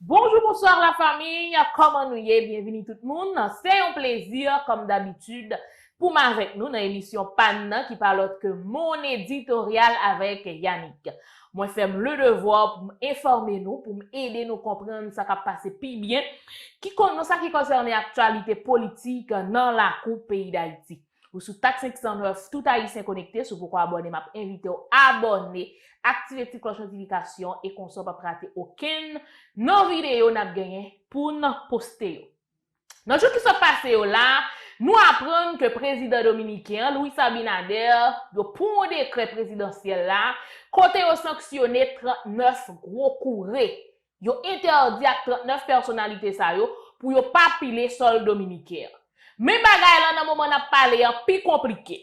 Bonjou bonswa la famiy kòman nou ye byenvini tout moun se yon plezi kòm dabitid pou m avèk nou nan emisyon pa n nan ki pa lòt ke Mon Editorial avèk Yanick mwen fè m le devwa pou m enfòme nou pou m ede nou konprann sa k ap pase pi byen ki kon nan sa ki konsène aktyalite politik nan lakou peyi dayiti. Ou sou tak 509 tout ayisyen konekte si w poko abòne map envite w abòne aktive ti klòch notifikasyon e konsa w pap rate okenn nan videyo nap genyen poun poste yo nan jou ki sot pase yo la nou aprann ke prezidan dominiken an Luis Abinader yo pran yon dekrè prezidansyèl la kote yo sanksyone 39 gwo koure Yo entèdi ak 39 pèsonalite sa yo pou yo pa pile sòl dominiken an. Men bagay lan nan moman n ap pale an pi konplike.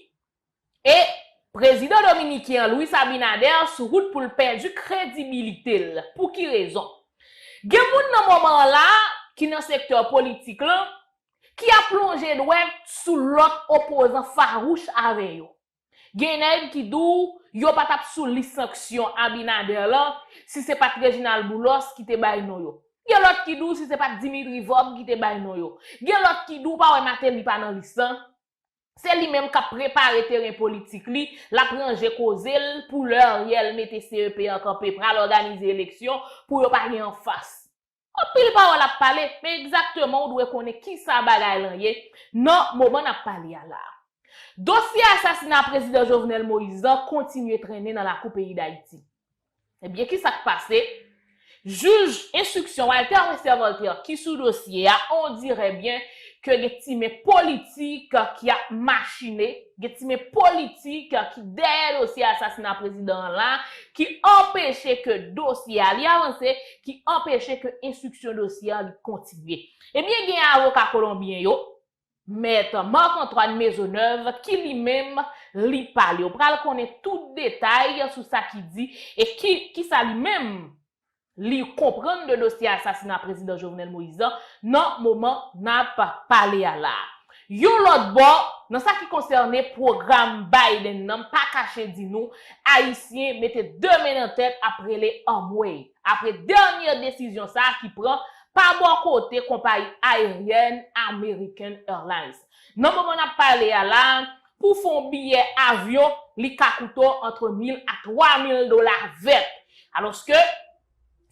E, prezidan dominiken an Luis Abinader sou wout pou l pèdi kredibilite l. Pou ki rezon? Gen moun nan moman an la a, ki nan sektè politik lan, ki ap lonje dwèt sou lòt opozan farouch avè yo. Gen nèg ki di w yo pa t ap sou lis sanksyon Abinader lan si se pa t Reginald Boulos ki te bay non yo. Gen lòt ki di w si se pa t Dimitri Vorbe ki te bay non yo. Gen lòt ki di w pa wè Martelly pa nan lis lan. Se li menm k ap prepare teren politik li, l ap ranje koze l pou lè Ariel mete CEP an kanpe pral òganize eleksyon pou yo pa gen anfas. Anpil pawòl ap pale, men egzakteman ou dwe konnen kisa bagay lan ye nan moman n ap pale a la a. Dosye asasina Prezidan Jovenel Moïse lan kontinye trennen nan lakou peyi Dayiti. Ebyen kisa k pase? Jij enstriksyon Walter Wester Voltaire ki sou dosye a, ondirè byen ke gen ti men politik ki ap machine, gen ti men politik ki dèyè dosye asasina prezidan an la, ki anpeche ke dosye a li avanse, ki anpeche ke enstriksyon dosye an li kontinye. Ebyen gen avoka kolonbyen yo, Mèt Marc Antoine Maisonneuve ki li menm li pale. Ou pral konnen tout detay sou sa ki di e ki sa li menm li konprann de dosye asasina Prezidan Jovenel Moïse an nan moman nap pale a la a. Yon lòt bò, nan sa ki konsène pwogram Biden nan m pa kache di nou, Ayisyen mete 2 men nan tèt ap rele anmwey, apre dènye desizyon sa ki pran pa bò kote konpayi ayeryèn American Airlines. Nan moman n ap pale a la, pou fè yon biyè avyon li ka koute w antre mil a twa mil dola vèt, alòske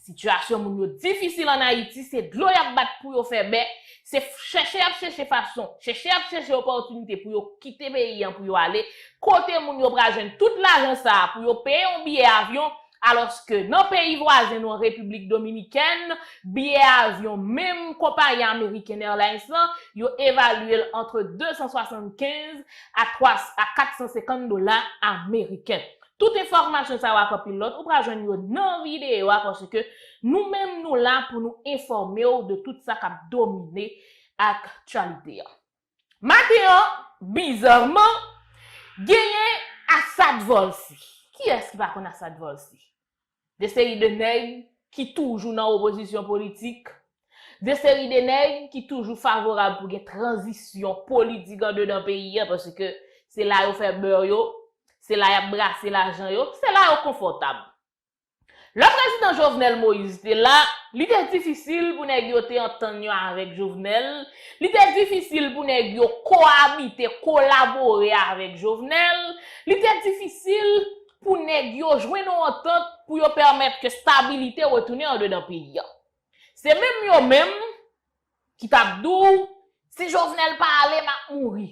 Sitiyasyon moun yo difisil an Ayiti, se dlo y ap bat pou yo fè bè, se chèche y ap chèche fason, chèche y ap chèche opòtinite pou yo kite peyi an pou yo ale, kote moun yo pral jwenn tout lajan sa a pou yo peye yon biyè avyon, alòske nan peyi vwazen nou an Repiblik Dominikèn, biyè avyon menm konpayi American Airlines lan, yo evalye l antre 275 a 450 dola ameriken. Tout enfòmasyon sa yo ak anpil lòt ou pral jwenn yo nan videyo a paske nou menm nou la pou nou enfòme w de tout sa k ap domine aktyalite an. Maten an, bizarman, genyen Assad Volcy. Kiyès ki pa konn Assad Volcy? De seri de nèg ki toujou nan opozisyon politik, de seri de nèg ki toujou favorab pou gen tranzisyon politik andedan peyi a paske se la yo fè bè yo, se la y ap brase lajan yo, se la yo konfòtab. Lè prezidan Jovenel Moïse te la, li te difisil pou nèg yo te antann yo avèk Jovenel, li te difisil pou nèg yo koabite, kolabore avèk Jovenel, li te difisil pou nèg yo jwenn yon antant pou yo pèmèt ke stabilite retounen andedan peyi a. Se menm yo menm ki t ap di w si Jovenel pa ale m ap mouri.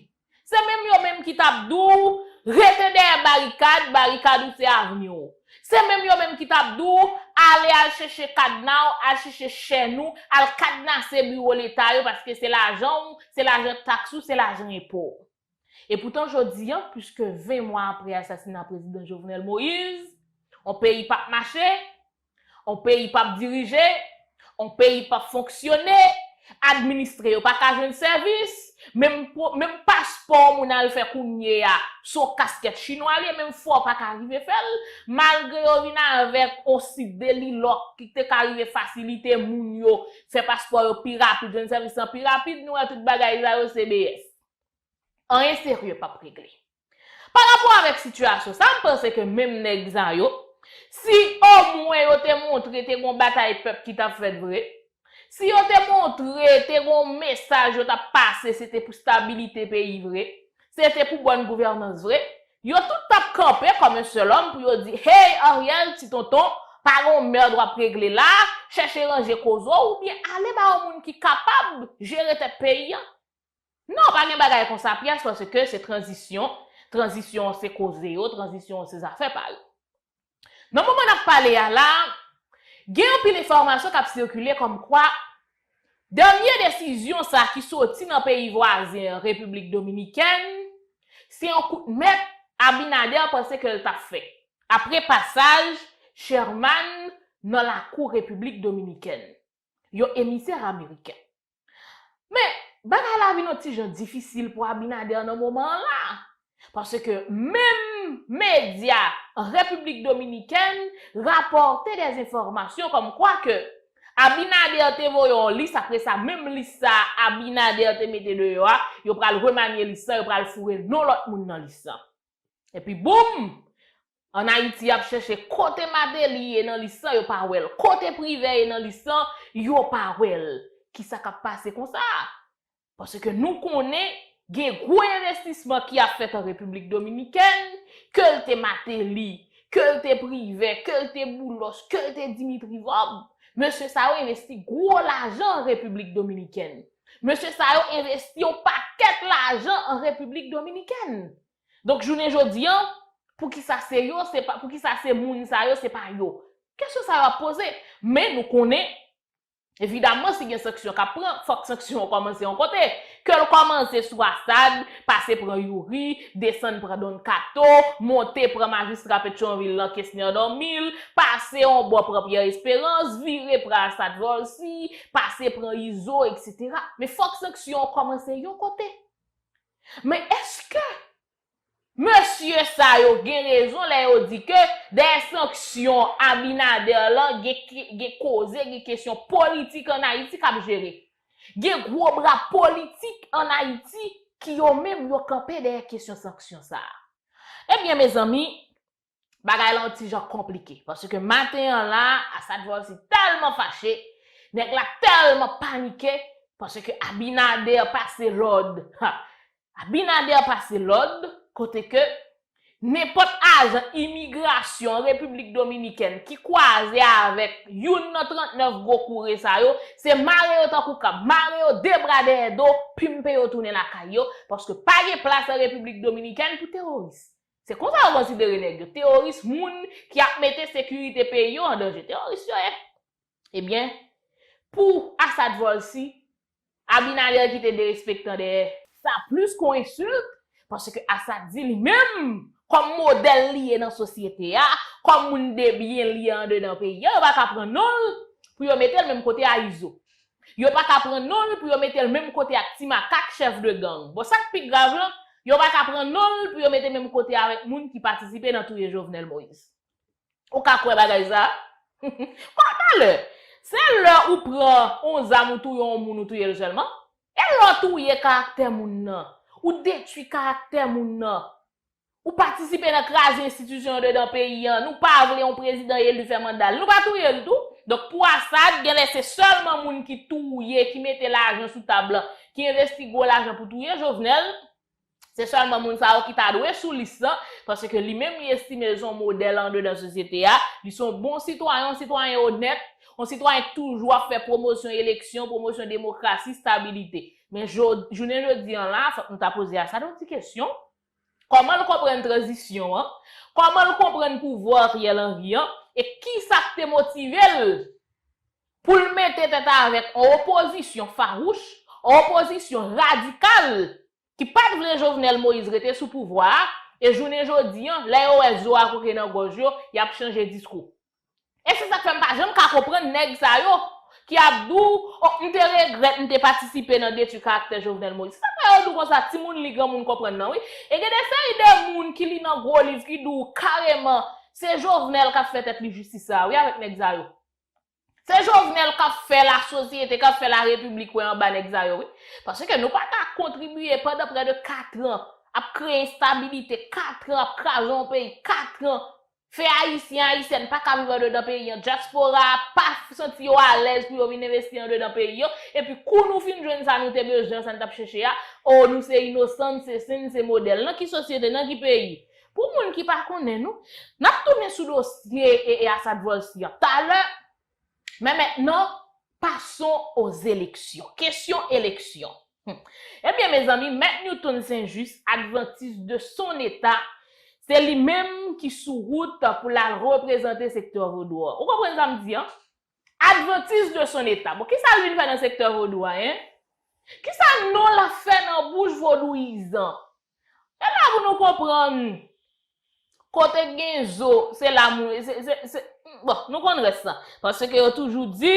Se menm yo menm ki t ap di w rete dèyè barikad, barikad ou se avni w. Se menm yo menm ki t ap di w ale al chèche kadna w, al chèche chèn ou, al kadnase biwo leta yo paske se lajan w, se lajan taks ou, se lajan enpo w. Epoutan jodi an, plis ke 20 mwa apre asasina Prezidan Jovenel Moise, on peyi pap mache, on peyi pap dirije, on peyi pap fonksyone, administre yo pa ka jwenn sèvis, menm paspò moun al fè kounye a, se on kaskèt chinwa li ye, menm fwa ou pa ka rive fè l, malgre yo vin avèk on side li lòk ki te ka rive fasilite moun yo fè paspò yo pi rapid, jwenn sèvis lan pi rapid, nou wè tout bagay sa yo se BS. anyen serye pap regle. Pa rapò avèk sitiyasyon sa, m panse ke menm nèg sa yo, si omwen yo te montre te gon batay pèp ki t ap fèt vre, si yo te montre te gon mesaj yo t ap pase se te pou stabilite peyi vre, se te pou bòn gouvènans vre, yo tout t ap kanpe kòm yon sèl òm pou yo di, hey Ariel, ti tonton, pa gon mèrd w ap regle la, chèche ranje koze w oubyen ale ba yon moun ki kapab jere tèt peyi an. Non pa gen bagay konsa pyès paske se tranzisyon, tranzisyon an se koze yo, tranzisyon an se zafè pa yo. Nan moman n ap pale a la a, gen anpil enfòmasyon k ap sikile kòmkwa dènye desizyon sa ki soti nan peyi vwazen an Repiblik Dominikèn se yon kout mèt Abinader panse ke l t ap fè apre pasaj Sherman nan lakou Repiblik Dominikèn, yon emisè ameriken. Men, bagay la vin yon ti jan difisil pou Abinader nan moman an la. Paske menm medya an Repiblik Dominikèn rapòte dè enfòmasyon kòm kwa ke Abinader te voye yon lis apre sa menm lis sa a Abinader te mete deyò a, yo pral remanye lis lan, yo pral foure non lòt moun nan lis lan. Epi boum! An Ayiti yap chèche kote Mateli ye nan lis lan yo pa wè l, kote Privè ye nan lis lan yo pa wè l. Kisa kap pase konsa? Paske nou konnen gen gwo envestisman ki ap fèt an Repiblik Dominikèn, ke l te Mateli, ke l te Privè, ke l te Boulos, ke l te Dimitri Vorbe, mesye sa yo envesti gwo lajan an Repiblik Dominikèn. Mesye sa yo envesti yon pakèt lajan an Repiblik Dominikèn. Donk jounen jodi an, pou ki sa se yo, se pa, pou ki sa se moun sa yo, se pa yo? Kesyon sa yo ap poze. Men nou konnen, evidaman si gen sanksyon k ap pran, fòk sanksyon an kòmanse yon kote. Ke l kòmanse sou Assad, pase pran Youri, desann pran Don Kato, monte pran majistra Petyonvil lan Kesner Dormil, pase yon bò pran Pierre Espérance, vire pran Assad Volcy, pase pran izo etc. Men fòk sanksyon an kòmanse yon kote. Men eske mesye sa yo gen rezon lè yo di ke dèyè sanksyon Abinader lan gen koze, gen kesyon politik an Ayiti k ap jere? Gen gwo bra politik an Ayiti ki yo menm yo kanpe dèyè kesyon sanksyon sa a. Ebyen mezanmi, bagay la yon ti jan konplike. Paske maten an la, Asad Volcy tèlman fache, nèg la tèlman panike, paske Abinader pase lòd, ha! Abinader pase lòd, kote ke nenpòt ajan imigrasyon Repiblik Dominikèn ki kwaze avèk youn nan 39 gwo koure sa yo, se mare yo tankou kab, mare yo de bra dèyè do, pimpe yo tounen lakay yo, paske pa gen plas an Repiblik Dominikèn pou teworis. Se konsa yo konsidere nèg yo, teworis, moun ki ap mete sekirite peyi yo an danje. Teworis yo ye. Ebyen, pou Assad Volcy, Abinader kite derespektan dèyè. Sa plis ke yon ensilt, paske Assad di li menm, kòm modèl li ye nan sosyete a, kòm moun debyen li andedan peyi a, yo pa ka pran non l pou yo mete l menm kote a Izo. Yo pa ka pran non l pou yo mete l menm kote ak ti makak chèf de gang. Bon sa k pi grav lan, yo pa ka pran non l pou yo mete menm kote avèk moun ki patisipe nan touye Jovenel Moïse. Ou ka kwè bagay sa a? Bon talè, se lè ou pran yon zam ou touye yon moun ou touye l sèlman? E lè w touye karaktè moun nan? Ou detwi karaktè moun nan? Ou patisipe nan kraze enstitisyon yo dedan peyi an, nou pa vle yon prezidan elu fè manda l, nou pa touye l tou? Donk pou Assad, genlè se sèlman moun ki touye, ki mete lajan sou tab lan, ki envesti gwo lajan pou touye Jovenel, se sèlman moun sa yo ki ta dwe sou lis lan, paske li menm li estime l se yon modèl andedan sosyete a, li se yon bon sitwayen, yon sitwayen onèt, yon sitwayen ki toujou ap fè pwomosyon eleksyon, pwomosyon demokrasi, stabilite. Men jounen jodi an la, fòk nou ta poze Assad yon ti kesyon, Kòman l konprann tranzisyon an? Kòman l konprann pouvwa Ariel Henry an? E kisa k te motive l pou l mete tèt avèk on opozisyon fawouch, on opozisyon radikal ki pa t vle Jovenel Moïse rete sou pouvwa a, e jounen jodi an, lè yo wè zo a koke nan gòj yo, y ap chanje diskou? E se sa k fè m pa janm ka konprann nèg sa yo ki ap di w, o m te regrèt m te patisipe nan detwi karaktè Jovenel Moïse. Se sa k fè yo di w konsa, timoun li granmoun konprann nan wi. E gen de seri de moun ki li nan gwo liv ki di w kareman se Jovenel k ap fè tèt li jistis sa a wi avèk nèg sa yo. Se Jovenel k ap fè lasosyete, k ap fè larepiblik wè anba nèg sa yo wi. Paske nou pa ka kontribiye pandan prè de katran ap kreye enstabilite, katran ap kraze yon peyi, katran Fè Ayisyen, Ayisyèn pa ka viv andedan peyi an, dyaspora a pa santi yo alèz pou yo vin envesti andedan peyi yo, epi kou nou fin jwenn sa nou te bezwen an, sa n t ap chèche a, oo nou se inosan, n se sen, n se modèl. Nan ki sosyete, nan ki peyi? Pou moun ki pa konnen nou, n ap tounen sou dosye Asad Volcy an talè. Men mentnan, pason aux élections. Kesyon eleksyon. Ebyen mezanmi, Mèt Newton St. Juste, adventiste de son état, se li menm ki sou wout pou l al reprezante sektè vodou an. Ou konprann sa m di an? Adventiste de son état. Bon, kisa l vin fè nan sektè vodou a, hein? Kisa non l ap fè nan bouch vodouyizan? E la pou nou konprann kote k gen zo se la mou se bon nou konn rès la paske yo toujou di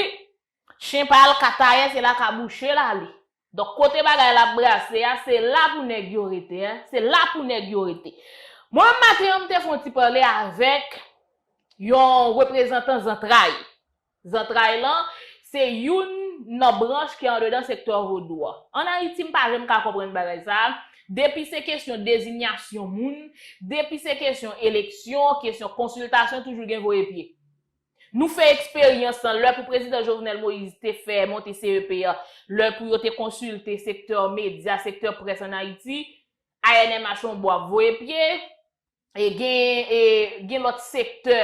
chen pa al katayè se la kabouche l ale donk kote bagay la ap brase a se la pou nèg yo rete se la pou nèg yo rete mwen menm maten an m te fon ti pale avèk yon reprezantan zantray Zantray lan, se youn nan branch ki andedan sektè vodou a. An Ayiti m pa janm ka konprann bagay sa a, depi se kesyon dezinyasyon moun, depi se kesyon eleksyon, kesyon konsiltasyon toujou gen voye pye. Nou fè eksperyans lan lè pou Prezidan Jovenel Moïse te fè monte CEP a, lè pou yo te konsilte sektè medya, sektè près an Ayiti, ANMH on bò ap voye pye, e gen lòt sektè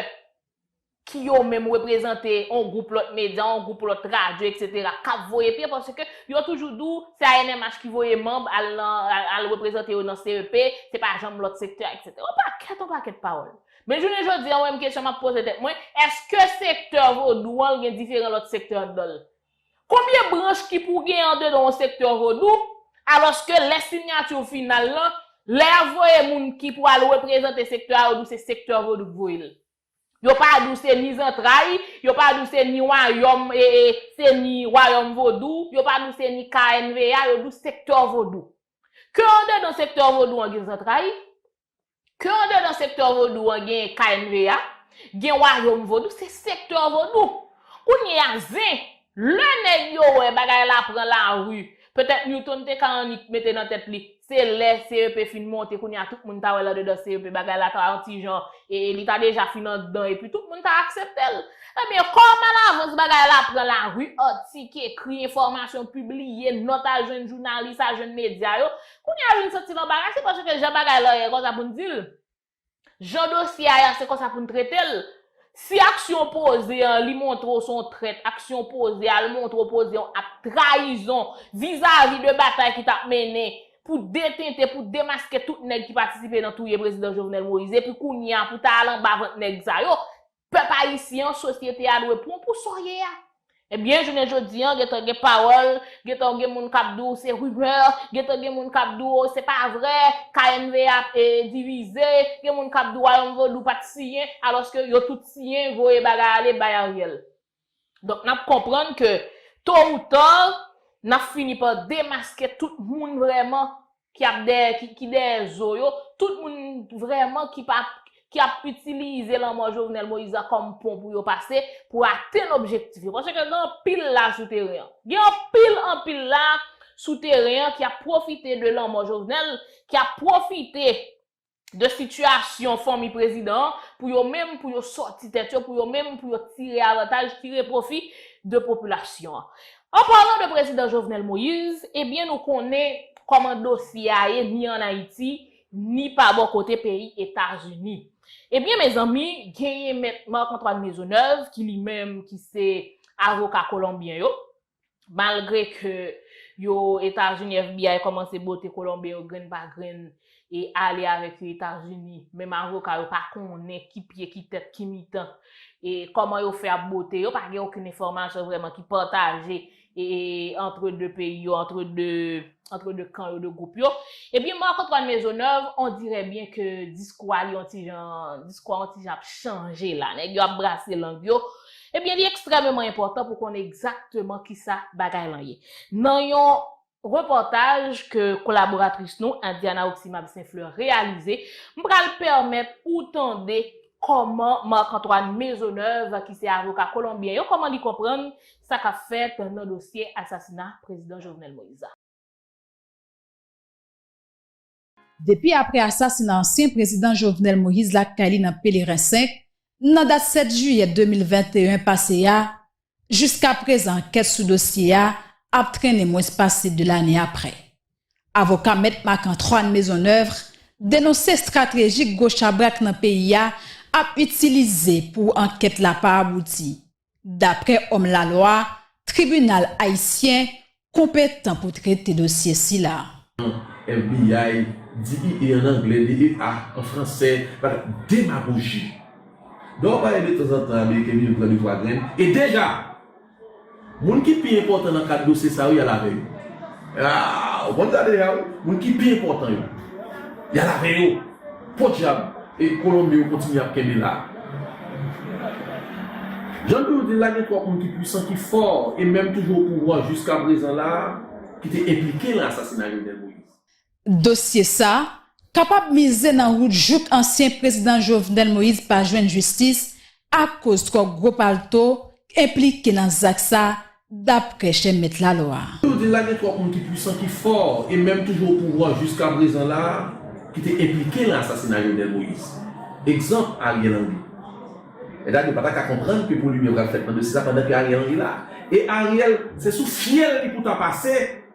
ki yo menm reprezante yon gwoup lòt medya, yon gwoup lòt radyo, etc. Kap voye pye, paske yo toujou dou, se ANMH ki voye manb al reprezante yo nan CEP, se pa janm lòt sektè, etc. Yon pakèt, yon pakèt pawòl. Men jounen jodi an, mwen menm kesyon map poze tèt mwen, eske sektè vodou an gen diferan lòt sektè andanl? Konbyen branch ki pou gen andedan yon sektè vodou, alòske lè sinyati final lan, lè y ap voye moun ki pou al reprezante sektè a yo di w se sektè vodou k voye l. Yo pa di w se ni zantray, yo pa di w se ni wayòm e e se ni wayòm vodou, yo pa di w se ni knva, yo di w sektè vodou. Ke andedan sektè vodou an gen zantray, Ke andedan sektè vodou an genyen knva, gen wayom vodou, se sektè vodou. Kounye a zen, lè nèg yo wè bagay la pran lari, petèt Newton te ka annik mete nan tèt li, se lè CEP fin monte kounye a tout moun ta wè l andedan CEP bagay la ta yon ti jan e li ta deja fin andan epi tout moun ta aksepte l. Ebyen, kòm alavans bagay la pran lari, atik ekri, enfòmasyon pibliye, nòt al jwenn jounalis, al jwenn medya yo, Kounye a wi m santi m anbarase paske jan bagay lan ye konsa pou n di l. Jan dosye a ya se konsa pou n trete l. Si aksyon w poze an li montre w se yon trèt, aksyon w poze a li montre w poze yon ak trayizon vizavi de batay ki t ap mennen pou detente, pou demaske tout nèg ki patisipe nan touye prezidan Jovenel Moïse epi kounye a pou ta al anba vant nèg sa yo, Pèp ayisyen an, sosyete a dwe pran w pou sa w ye a. Ebyen, jounen jodi an, gen tan gen pawòl, gen tan gen moun k ap di w se rumeur, gen tan gen moun k ap di w se pa vre, KNVA ap divize, gen moun k ap di w Wayòm Vodou pa t siyen, alòske yo tout siyen voye bagay ale bay Ariel. Donk nap konprann ke to ou ta nap fini pa demaske tout moun vrèman ki ap dèyè ki dèyè zo yo, tout moun vrèman ki pa ki ap itilize lanmò Jovenel Moïse la kòm pon pou yo pase pou atenn objektif yo. Paske gen anpil la sou teren an. Gen anpil anpil la sou teren an ki ap pwofite de lanmò Jovenel, ki ap pwofite de sitiyasyon fanmi prezidan an pou yo menm pou yo sòti tèt yo, pou yo menm pou yo tire avantaj, tire pwofi de popilasyon an. An palan de prezidan Jovenel Moïse, ebyen nou konnen kòman dosye a ye ni an Ayiti, ni pa bò kote peyi Etazini. Ebyen mezanmi, genyen mèt Marc Antoine Maisonneuve ki li menm ki se avoka kolonbyen yo, malgre ke yo Etazini FBI kòmanse bote kolonbyen yo grenn pa grenn e ale avèk yo Etazini, menm avoka yo pa konnen ki pye ki tèt ki mitan e kòman yo fè ap bote yo, pa gen okenn enfòmasyon vrèman ki pataje e antre 2 peyi yo, antre 2 antre 2 kan yo, 2 gwoup yo. Ebyen Marc Antoine Maisonneuve on dirè byen ke diskou a li on ti jan diskou a on ti jan ap chanje la, nèg yo ap brase lang yo, Ebyen li ekstrèmeman enpòtan pou konnen egzakteman kisa bagay lan ye. Nan yon repòtaj ke kolaboratris nou Indiana Oximab St Fleur reyalize, m pral pèmèt ou tande kòman Marc Antoine Maisonneuve ki se avoka kolonbyen yo kòman li konprann sa kap fèt nan dosye asasina Prezidan Jovenel Moïse la. Depi apre asasina ansyen prezidan Jovenel Moïse lakay li nan Pelerin 5, nan dat 7 jiyè 2021 pase a, jiska prezan ankèt sou dosye a ap trennen mwens pase 2 lane apre. Avoka mèt Marc Antroine Maisonneuvre denonse stratrejik gwo chabrak nan peyi a ap itilize pou ankèt la pa abouti. Daprè òm lalwa, tribinal ayisyen konpetan pou trete dosye sila. FBI, DEA an angle, DEA an franse, bat demagoji. Lè w pale de tanzantan ameriken vin pran de twa grenn, e deja! Moun ki pi enpòtan nan kad dosye sa yo y al avè yo. Aa! Ou konn sa deja wi! Moun ki pi enpòtan yo, y al avè yo. Podyab e kolonbe yo kontinye ap kenbe la. Jan m toujou di l la gen twòp moun ki pwisan, ki fò e menm toujou opouvwa jiska prezan la ki te enplike lan asasina Jovenel Moïse. Dosye sa kapab mize nan wout jouk ansyen prezidan Jovenel Moïse pa jwenn jistis Akoz twò gwo palto k enplike nan zak sa, daprè chè mèt lalwa a. Yo di l la gen twòp moun ki pwisan, ki fò e menm toujou opouvwa jiskaprezan la a ki te enplike nan asasina Jovenel Moïse. Egzanp, Ariel Henry. Mètad yo pa ta ka konprann ke pou limyè pral fèt nan dosye sa pandan ke Ariel Henry la. E Ariel, se sou fyèl li pou ta pase!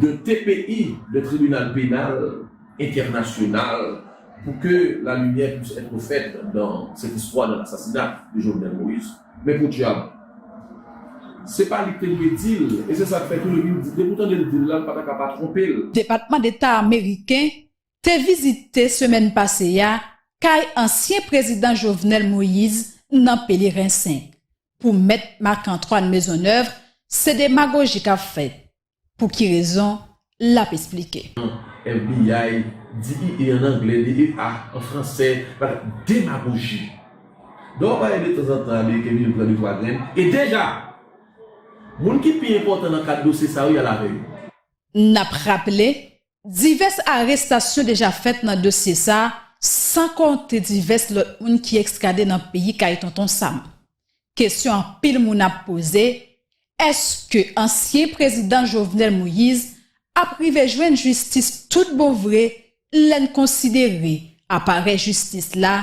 de TPI de Tribinal Penal Entènasyonal pou ke la limyè pwis ètre fèt dan sèt istwa de lasasina de Jovenel Moïse. Men podyab, se pa li k te dwe di l e se sa k fè tou depi l depi w tande l di l la l pa ta ka pa twonpe l. Depatman Deta Ameriken te vizite semèn pase a kay ansyen Prezidan Jovenel Moïse nan Pelerin 5. Pou mèt Marc Antoine Maisonneuve se demagoji k ap fèt, pou ki rezon l ap esplike. FBI, DEA an anglè, DEA an fransè, bat demagoji. Dò a pale de tanzantan ameriken vini pran de twa grenn, e deja! Moun ki pi enpòtan nan kad dosye sa yo y al avè yo. N ap raple, Divès arestasyon deja fèt nan dosye sa, san konte divès lòt moun ki ekstrade nan peyi kay Tonton Sam. Kesyon anpil moun ap poze, èske ansyen prezidan Jovenel Moïse ap rive jwenn jistis tout bon vre lè n konsidere aparèy jistis la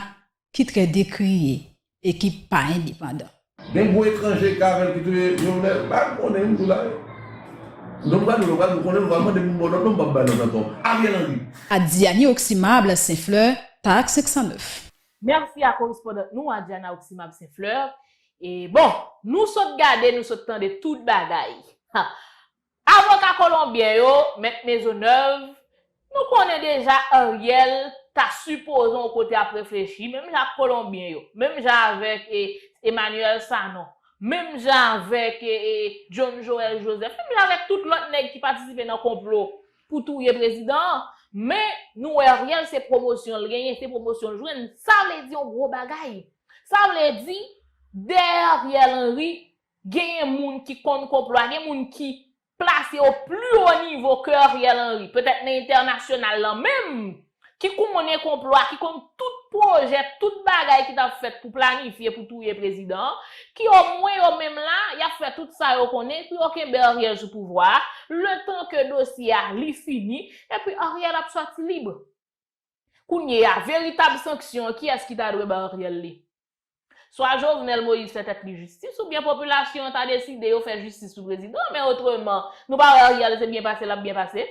ki trè dekriye e ki pa endepandan. Gen gwo etranje k avèl ki touye jovenel pa konnen m joula yo non m pral di nou pral di konnen nou pral mande pou m bon nòt non m pap bay nòt ankò ariel henry. A Diani Oximable Saint Fleur Tax 509. Merci a correspondant nou a Diana Oximable Saint Fleur. E bon! Nou sot gade nou sot tande tout bagay. Ha! Avoka kolonbyen yo, Mèt Maisonneuve, Nou konnen deja Ariel ta sipoze yon kote ap reflechi, menm jan ak kolonbyen yo, menm jan avèk Emmanuel Sanon, menm jan avèk John Joël Joseph, menm jan avèk tout lòt nèg ki patisipe nan konplo pou touye prezidan an, men nou wè Ariel se pwomosyon l genyen, se pwomosyon l jwenn, sa vle di yon gwo bagay. Sa vle di, dèyè Ariel Henry, Genyen moun ki konn konplo a, gen moun ki plase o pli o nivo ke Ariel Henry, petèt nan entènasyonal lan menm, ki konnen konplo a, ki konn tout pwojè, tout bagay ki t ap fèt pou planifye pou touye prezidan an, ki o mwen yo menm la, y ap fè tout sa yo konnen pou yo kenbe Ariel sou pouvwa a, letan ke dosye a li fini, epi Ariel ap sòti lib. Kounyeya, veritab sanksyon an, kiyès ki ta dwe bay Ariel li? Swa Jovenel Moïse fè tèt li jistis oubyen popilasyon an ta deside yo fè jistis sou prezidan an, men otreman, nou pa wè Ariel se byen pase l ap byen pase?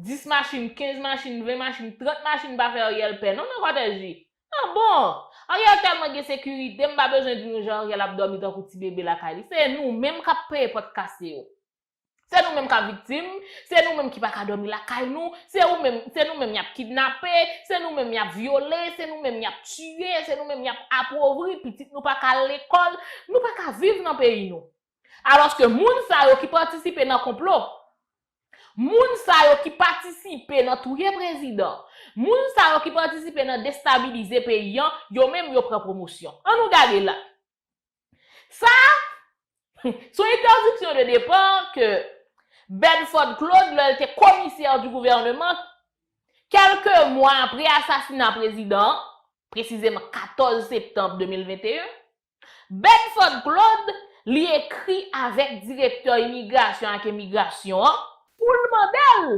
10 machin, 15 machin, 20 machin, 30 machin pa fè Ariel pè non nan Kòtèj li. An bon! Ariel tèlman gen sekirite, m pa bezwen di nou jan Ariel ap dòmi tankou ti bebe lakay li. Se nou menm k ap peye pòt kase yo. Se nou menm k ap viktim, se nou menm ki pa ka dòmi lakay nou, se ou menm, se nou menm y ap kidnape, se nou menm y ap vyole, se nou menm y ap tiye, se nou menm y ap apovri, pitit nou pa ka al lekòl, nou pa ka viv nan peyi nou. Alòske moun sa yo ki patisipe nan konplo, moun sa yo ki patisipe nan touye prezidan, moun sa yo ki patisipe nan destabilize peyi an, yo menm yo pran pwomosyon. An nou gade la. Sa a, se yon interdiction de départ ke Bedford Claude, lè l te Commissaire du Gouvernement, kèlke mwa apre asasina prezidan an, presizeman 14 septanm 2021, Bedford Claude, li ekri avèk direktè imigrasyon ak emigrasyon an, pou l mande l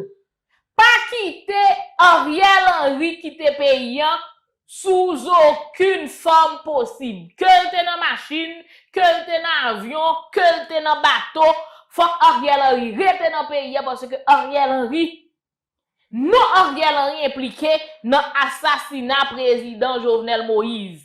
Pa kite Ariel Henry kite peyi an sou zokenn fòm posib. Ke l te nan machin, ke l te nan avyon, ke l te nan bato, fòk Ariel Henry rete nan peyi an paske Ariel Henry, non Ariel Henry enplike nan asasina prezidan Jovenel Moise.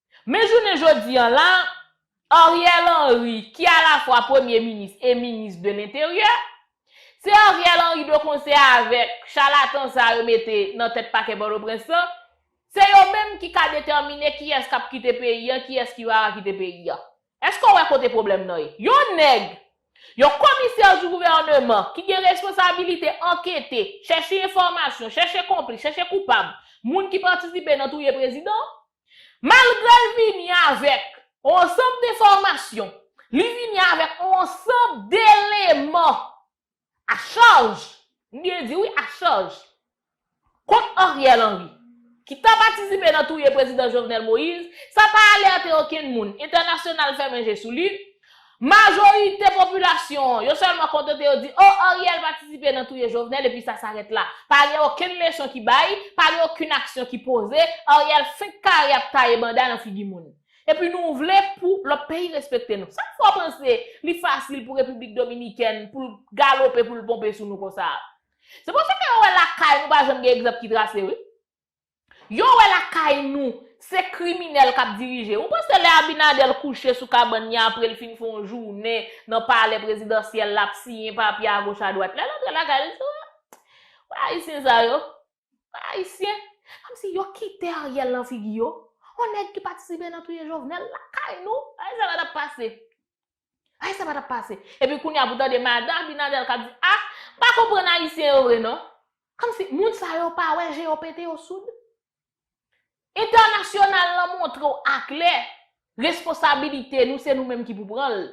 Men jounen jodi an la, Ariel Henry, ki alafwa premye minis e minis de lenteryè, se Ariel Henry de konsè avèk chalatan sa yo mete nan tèt pakè Pòtoprens lan, se yo menm ki ka detèmine kiyès k ap kite peyi an, kiyès ki pa ka kite peyi an. Èske w wè kote pwoblèm nan ye? Yon nèg, yon komisè di gouvèneman ki gen responsabilite ankete, chèche enfòmasyon, chèche konplis, chèche koupab, moun ki patisipe nan touye prezidan, Malgre l vini avèk yon ansanm de enfòmasyon, li vini avèk yon ansanm deleman a chaj, m byen di wi a chaj, kont Ariel Henry, ki ta patisipe nan touye Prezidan Jovenel Moïse, sa pa alète okenn moun, entènasyonal fèmen je sou li, Majorite popilasyon an, yo sèlman kontante yo di, oh Ariel patisipe nan touye Jovenel epi sa sarèt la. Pa gen okenn leson ki bay, pa gen okenn aksyon ki poze, Ariel fenk kare ap taye banda nan figi moun. Epi nou vle pou lòt peyi respekte nou. Sa k fè w panse li fasil pou Repiblik Dominikèn pou l galope, pou l ponpe sou nou konsa a? Se paske yo wè lakay nou pa janm gen egzanp ki trase wi. Yo wè lakay nou se kriminèl kap dirije. Ou panse lè Abinader kouche sou kabann ni apre l fin fè yon jounen nan palè prezidansyèl la ap siyen papye agoch adwat. Lè l antre lakay l se Wè ayisyen sa yo. Wè ayisyen. Kòmsi yo kite Ariel nan figi yo. Yon nèg ki patisipe nan touye Jovenel lakay nou. Gade sa k ap pase. Ay sa pa tap pase. Epi kounya pou tande madan Abinader kap di ah m pa konprann ayisyen yo vre non. Kòmsi moun sa yo pa wè je yo pete yo soud? Entènasyonal lan montre w aklè responsabilite nou se nou menm ki pou pran l.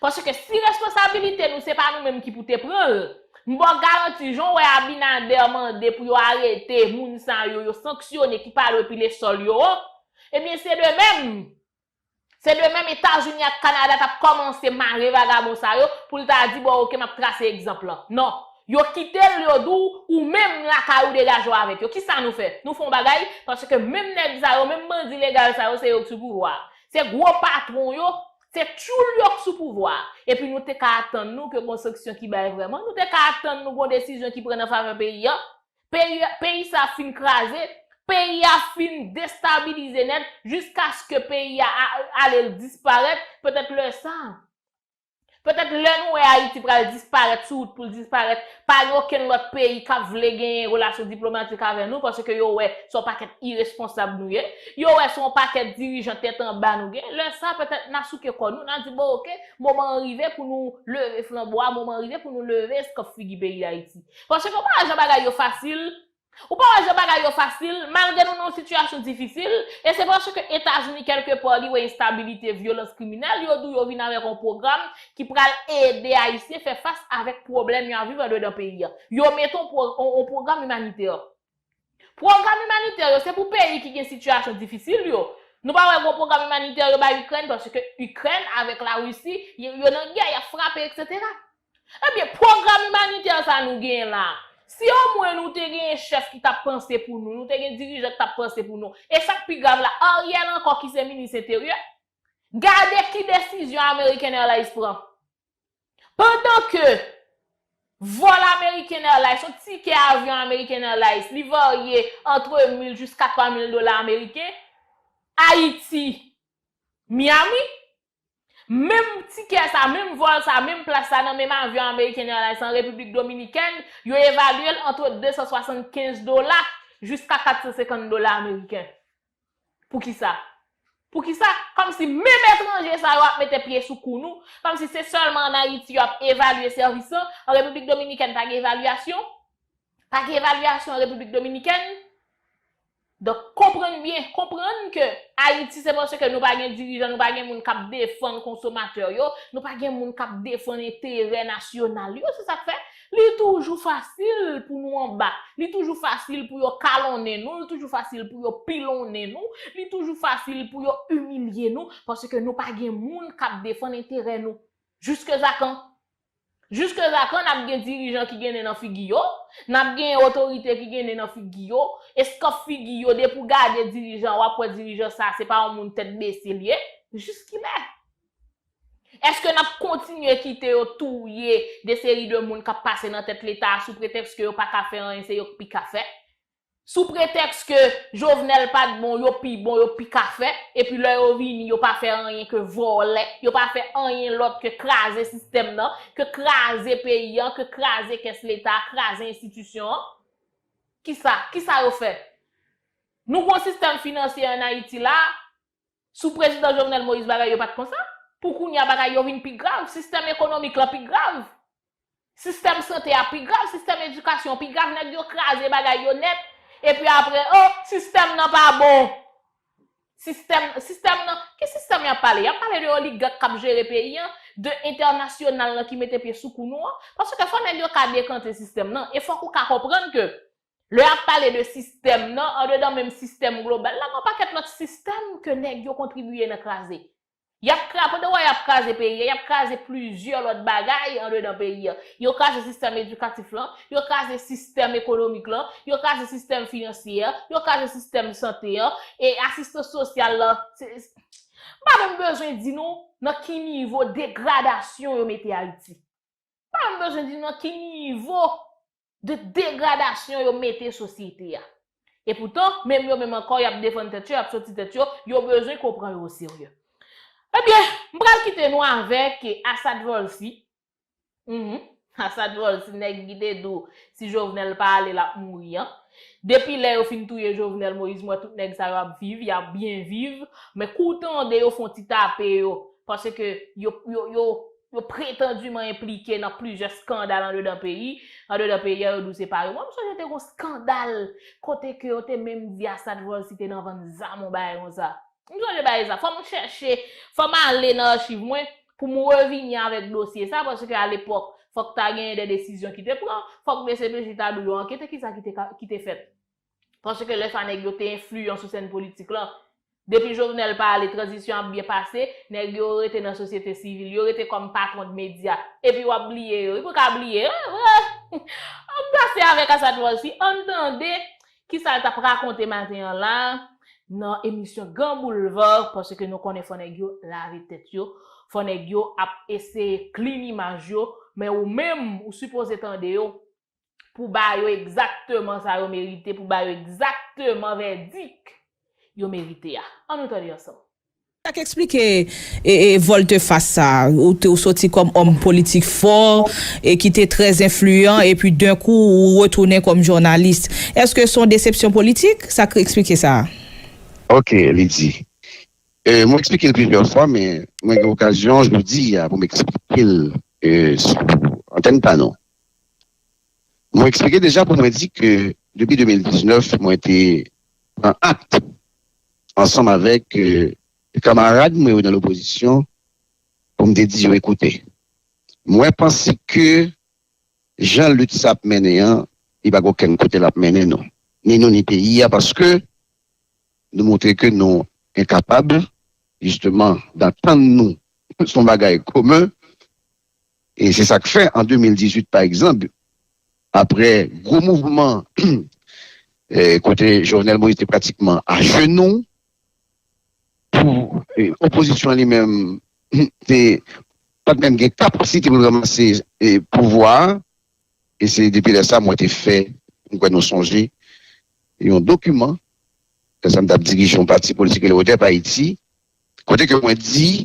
Paske si responsabilite nou se pa nou menm ki pou te pran l, m ba w garanti jan w wè Abinader mande pou yo arete moun sa yo, yo sanksyone ki pa dwe pile sòl yo an, ebyen se de menm Se de menm Etazini ak Kanada t ap kòmanse mare vagabon sa yo pou l ta di bon ok m ap trase egzanp lan. Non. Yo kite l yo di w ou menm lakay ou degaje w avèk yo. Ki sa nou fè? Nou fè yon bagay? Paske menm nèg sa yo, menm bandi legal sa yo se yo k sou pouvwa a. Se gwo patwon yo, se tyoul yo k sou pouvwa a. Epi nou te ka atann nou ke gon sanksyon ki bay vrèman? Nou te ka atann nou gon desizyon ki pran nan favè peyi an? Peyi sa ap fin kraze, peyi a ap fin destabilize nèt jiskaske peyi a ale l disparèt, petèt lè sa, petèt lè nou wè Ayiti pral disparèt sou wout pou l disparèt, pa gen okenn lòt peyi k ap vle genyen relasyon diplomatik avè nou paske yo wè se yon pakèt iresponsab nou ye, yo wè se yon pakèt dirijan tèt anba nou gen, lè sa petèt n a souke kò nou, n a di bon oke, moman an rive pou nou leve flanbo a, moman an rive pou nou leve eskòp figi peyi Dayiti. Paske ou pa wè jan bagay yo fasil, ou pa wè jan bagay yo fasil, malgre nou nan yon sitiyasyon difisil, e se paske Etazini kèlke pa li wè enstabilite, vyolans, kriminèl, yo di w yo vin avèk yon pwogram ki pral ede Ayisyen fè fas avèk pwoblèm y ap viv andedan peyi a. Yo mete yon pwogram imanitè. Pwogram imanitè yo se pou peyi ki gen sitiyasyon difisil yo. Nou pa wè gwo pwogram imanitè yo bay Ikrèn paske Ikrèn avèk Larisi yo nan gè, y ap frape eksetera. Ebyen pwogram imanitè sa nou genyen la a, si omwen nou te genyen chèf ki t ap panse pou nou, nou te gen dirijan ki t ap panse pou nou, e sa k pi grav la Ariel ankò ki se minis enteryè, gade ki desizyon American Airlines pran. Pandan ke vòl American Airlines, yon tikè avyon American Airlines, li varye antre mil jiska twa mil dola ameriken, Ayiti, Miami, menm tikè sa, menm vòl sa, menm plas sa nan menm avyon American Airlines an Repiblik Dominikèn, yo evalye l antre 275 dola jiska 450 dola ameriken. Poukisa? Poukisa? Kòmsi menm etranje sa yo ap mete pye sou kou nou, kòmsi se sèlman an Ayiti yo ap evalye sèvis lan, an Repiblik Dominikèn pa gen evalyasyon? Pa gen evalyasyon an Repiblik Dominikèn? Donk konprann byen, konprann ke Ayiti se paske nou pa gen dirijan, nou pa gen moun k ap defann konsomatè yo, nou pa gen moun k ap defann enterè nasyonal yo, se sa k fè Li toujou fasil pou nou anba, li toujou fasil pou yo kalonnen nou, li toujou fasil pou yo pilonnen nou, li toujou fasil pou yo imilye nou, paske nou pa gen moun k ap defann enterè nou. Jiskèzakan? Jiskèzakan n ap gen dirijan ki gen nen nan figi yo, n ap gen otorite ki gen nen nan figi yo, eskanp figi yo, depi w gade dirijan w ap wè dirijan sa a se pa yon moun tèt bese l ye. Jiskilè? Eske nap kontinye kite yo touye de seri de moun kap pase nan tèt leta a sou pretèks ke yo pa ka fè anyen se yo k pi ka fè? Sou pretèks ke Jovenel pat bon yo pi bon yo pi ka fè epi lè yo vini yo pa fè anyen ke vòlè yo pa fè anyen lòt ke kraze sistèm nan ke kraze peyi an ke kraze kès leta a kraze enstitisyon an? Kisa? Kisa yo fè? Nou gon sistèm finansye an Ayiti la a Sou prezidan Jovenel Moïse bagay yo pa t konsa. Pou kounye a bagay yo vin pi grav. Sistèm ekonomik lan pi grav. Sistèm sante a pi grav. Sistèm edikasyon pi grav. Nèg yo kraze bagay yo nèt. Epi apre, oh, sistèm nan pa bon. Sistèm, sistèm nan, ki sistèm y ap pale? Y ap pale de oligak k ap jere peyi an, de entènasyonal lan ki mete pye sou kou nou an. Paske fò nèg yo ka dekante sistèm nan. E fòk ou ka konprann ke Lè y ap pale de sistèm nan, andedan menm sistèm global la, gen yon pakèt lòt sistèm ke nèg yo kontribiye nan kraze. Y ap kra, pandan wè y ap kraze peyi a, y ap kraze plizyè lòt bagay andedan peyi a. Yo kraze sistèm edikatif lan, yo kraze sistèm ekonomik lan, yo kraze sistèm finansyè a, yo kraze sistèm sante an, e asistans sosyal lan, se, m pa menm bezwen di nou nan ki nivo degradasyon yo mete Ayiti. M pa menm bezwen di nou nan ki nivo de degradasyon yo mete sosyete a. E poutan, menm yo menm ankò y ap defann tèt yo, y ap soti tèt yo, yo bezwen ke w pran yo o serye. Ebyen, m pral kite nou avèk Asad Volcy, Hum, Asad Volcy nèg ki te di w si Jovenel pa ale l ap mouri an. Depi lè yo fin touye Jovenel Moïse m wè tout nèg sa yo ap viv, y ap byen viv, men kou w tande yo fon ti tape yo, paske yo, yo, yo, yo pretandiman enplike nan plizyè skandal andedan peyi, andedan peyi a yo di w se pa yo. Mwen m sonje te gon skandal kote ke yo te menm di Assad vòl si te nan vann zam yon bagay konsa. M sonje bagay sa. Fò m chèche, fò m ale nan achiv mwen pou m revini avèk dosye sa paske a lepòk fòk ta genyen de desizyon ki te pran, fòk dcpj ta di w yo ankete kisa ki te fèt. Paske lè sa nèg yo te enfliyan sou sèn politik lan. Depi Jovenel pa ale tranzisyon ap byen pase, nèg yo rete nan sosyete sivil, yo rete kòm patwon de medya. Epi wap bliye yo. Wi pou ka bliye yo. Ann pase avèk Asad Volcy, ann tande kisa l tap rakonte maten an la nan emisyon Grand Boulevard paske nou konnen fò nèg yo lave tèt yo, fò nèg yo ap eseye clean imaj yo, men ou menm ou sipoze tande yo pou ba yo egzakteman sa yo merite, pou ba yo egzakteman vèdik yo merite a. An nou tande ansanm. Sa k eksplike volte fas sa a? Ou te ou soti kòm òm politik fò e ki te trè enfliyan epi den kou ou retounen kòm jounalis. Eske s on desepsyon politik? Sa k eksplike sa a? Ok, li di. Mwen eksplike l plizyè fwa men mwen gen okazyon jodi a pou m eksplike l sou antèn pa nou. Mwen eksplike deja pou mwen di ke depi 2019 mwen te pran akt ansanm avèk kamarad mwen yo nan lopozisyon pou m te di yo ekoute mwen panse ke jan lit sa ap mennen an li pa gen okenn kote l ap mennen nou, ni nou ni peyi a paske nou montre ke nou enkapab jisteman dantann nou sou yon bagay komen. E se sa k fè an 2018 pa egzanp, aprè gwo mouvman kote Jovenel Moïse te pratikman ajenou pou opozisyon an li menm te pa t menm gen kapasite pou l ranmase pouvwa a. E se depi lè sa mwen te fè, m kwè nou sonje, yon dokiman, lè sa m t ap dirije yon pati politik ki rele ODEP Ayiti, kote ke mwen di.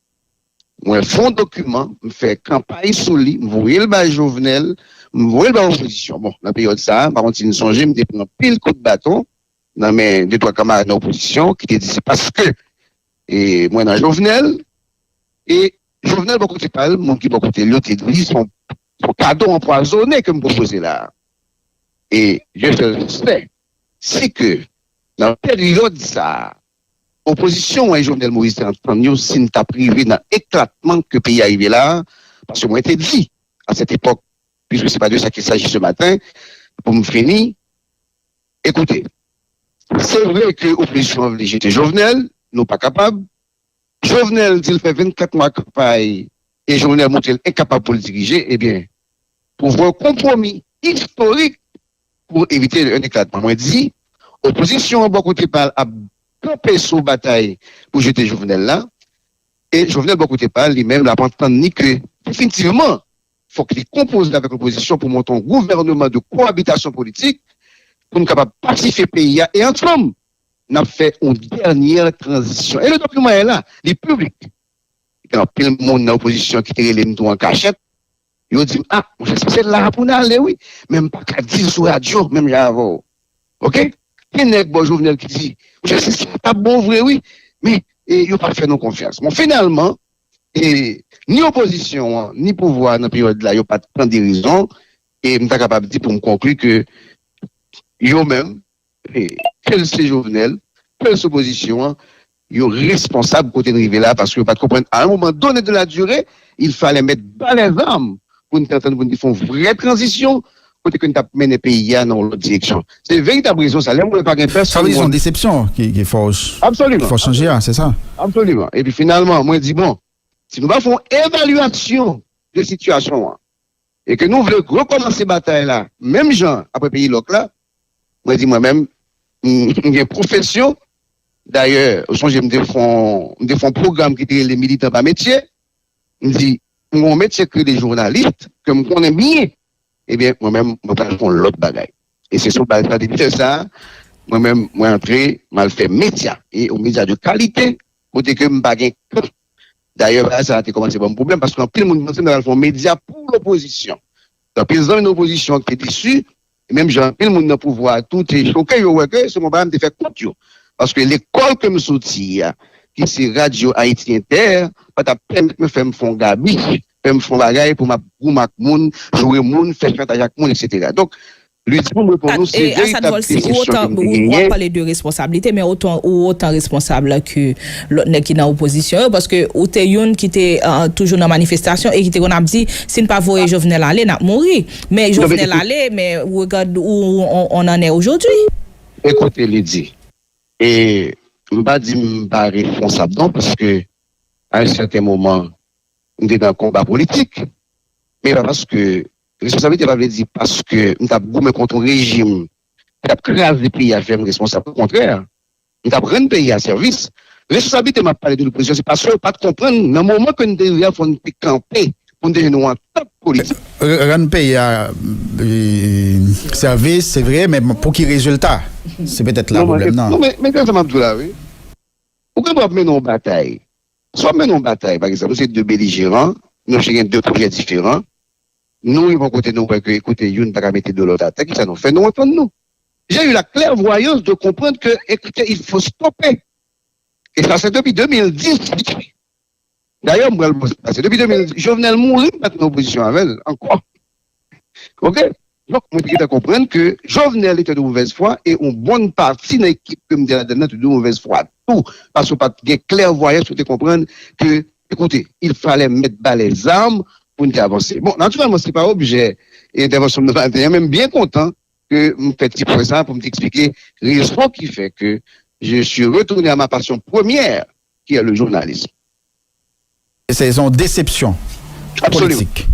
Mwen fon dokiman, m fè kanpay sou li, m voye l bay Jovenel, m voye l bay opozisyon. Bon, nan peryòd sa a, m pa konn si nou sonje, m te pran anpil kout baton nan men de twa kanmarad nan opozisyon ki te di se paske mwen nan Jovenel. E Jovenel bò kote pa l, moun ki bò kote l yo te di se yon kado anpwazone ke m pwopoze la a. E Dye fè l fè si ke nan peryòd sa a, Opozisyon mwen Jovenel Moïse te ap tann yo si n t ap rive nan eklatman ke peyi a rive la a, paske mwen te di a sèt epòk, puiske se pa de sa ki saji se maten, pou m fini, Ekoute, se vre ke opozisyon an vle jete Jovenel, nou pa kapab, Jovenel di l fè 24 mwa kanpay e Jovenel montre l enkapab pou l dirije, ebyen, pou fè yon konpwomi istorik, pou evite yon eklatman. Mwen di, opozisyon an bò kote pa l ap kanpe sou batay pou jete Jovenel la, e Jovenel bò kote pa l, li menm l ap antann ni ke definitivman fòk li konpoze avèk lopozisyon pou monte yon gouvèneman de kowabitasyon politik pou n kapab pasifye peyi a e ansanm n ap fè yon dènyè tranzisyon. E nou t ap yon mwayen la, li piblik. Gen anpil moun nan opozisyon ki te rele m tou an kachèt. Yo di m ah monchè si se la a pou n ale wi men m pa ka di l sou radyo menm jan avè w ok gen nèg bò Jovenel ki di monchè si sa a t ap bon vre wi men yo pa fè nou konfyans bon finalman e ni opozisyon an ni pouvwa a nan peryòd la yo pa t tande rezon e m ta kapab di pou m konkli ke yo menm. Ke l se Jovenel, ke l se opozisyon an, yo responsab kote n rive la paske yo pa t konprann a un moment donne de la durée il fallait met bas les armes pou n te antann pou n te fè yon vrè tranzisyon kote ke n t ap mennen peyi a nan yon lòt direksyon. Se veritab rezon sa lè m wè pa gen pèsonn moun. Sa vle di se yon desepsyon ki fè w chanje a, se sa? Absoliman. Epi finalman mwen di bon, si nou pa fè yon evalyasyon de sitiyasyon an, e ke nou vle rekòmanse batay la menm jan apre peyi lòk la, mwen di mwen menm, m gen pwofesyon, dayè ou sonje m te fon m te fon pwogram ki te rele militan pa metye, m di m gon metye ki rele journalist ke m konnen byen, ebyen mwen menm mwen pral fon lòt bagay e se sou baz sa depi lè sa mwen menm mwen antre m al fè medya e yon medya de kalite Kote ke m pa gen kan. Dayè bagay sa a te kòmanse ban m pwoblèm paske anpil moun te panse m t apral fè yon medya pou lopozisyon. Anpil zanmi nan opozisyon an te desu, e menm jan anpil moun nan pouvwa a tou te choke, yo wè ke se bon bagay m te fè kont yo. Paske lekòl ke m soti a, ki se Radyo Ayiti Entè, pa t ap pèmèt mwen fè m fè yon gabi, fè m fè yon bagay pou m ap goumen ak moun, joure moun, fè chantaj ak moun, eksetera. Donk, Lydie pou m reponn ou se veritab vye kesyon ke m te genyen. Wap pale de responsablite men otan ou otan responsab ke lòt nèg ki nan opozisyon yo paske ou te youn ki te toujou nan manifestasyon e ki te konn ap di si n pa voye Jovenel ale nap mouri men Jovenel ale men regad ou on an è ojodwi. Ekoute Lydie e m pa di m pa responsab non paske a yon sèten moman m te nan konba politik men pa paske Responsablite pa vle di paske m t ap goumen kont yon rejim ki t ap kraze peyi a fè m responsab. Okontrè, m t ap rann peyi a sèvis. Responsablite m ap pale de loupozisyon se paske yo pa t konprann nan moman ke n te rive a fò n te kanpe pou n te jwenn yon antant politik. Rann peyi a sèvis se vre men pou ki rezilta? Se petèt la pwoblèm nan. Non men gad sa m ap di w la wi. Ou gen dwa ap mennen yon batay. Si w ap mennen yon batay pa egzanp nou se de belijeran nou chak gen de pwojè diferan Nou rive yon kote nou wè ke ekoute youn pa ka mete do lòt atè, kisa nou fè? Nou antann nou. J'ai eu la clairvoyance de comprendre que ekoute il faut stopper et ça c'est depuis 2010 d'ailleurs m pral pase depi 2010 Jovenel mouri m pa t nan opozisyon avè l ankò ok Donk mwen te gentan konprann ke Jovenel ete de movèz fwa e yon bon pati nan ekip ke m te ladann nan te de movèz fwa tou paske w pa t gen klèvwayans pou w te konprann ke ekoute il falè mèt ba lè zam pou n te avanse. Bon natirèlman se pa objè entèvansyon m nan maten an men m byen kontan ke m fè ti pwen sa pou m te eksplike rezon ki fè ke je suis retourne à ma passion première qui est le journalisme. Se yon desepsyon politik. Absolument.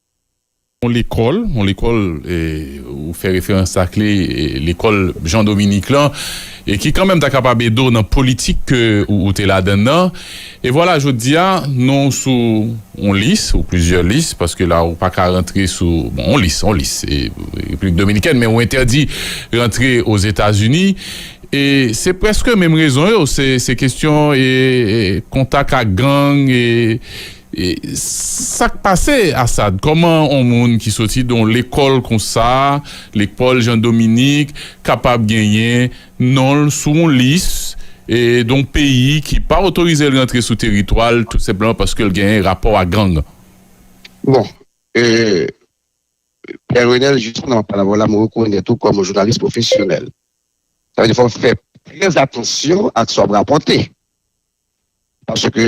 yon lekòl, yon lekòl ou fè referans ak li, lekòl Jean Dominique lan, e ki kanmenm ta kapab ede w nan politik ke ou te ladann nan, e vwala jodi a non w sou yon lis, ou plizyè lis, paske la ou pa ka rantre sou, bon yon lis, yon lis, Repiblik Dominikèn, men ou entèdi rantre Ozetazini, e se prèske menm rezon yo, se kestyon kontak ak gang, e E sak pase Asad kòman on moun ki soti don lekòl konsa lekpòl Jean Dominique kapab genyen nonl sou on lis e don peyi ki pa otorizel rantre sou teritwal tout senpleman paskel genyen rapò a gang. Bon e Pierre Renel jis nan pale avèw la m rekonèt ou kòm on jounalis pwofesyonèl sa vle di fòw fè trè atansyon ak sa wap rapòte paske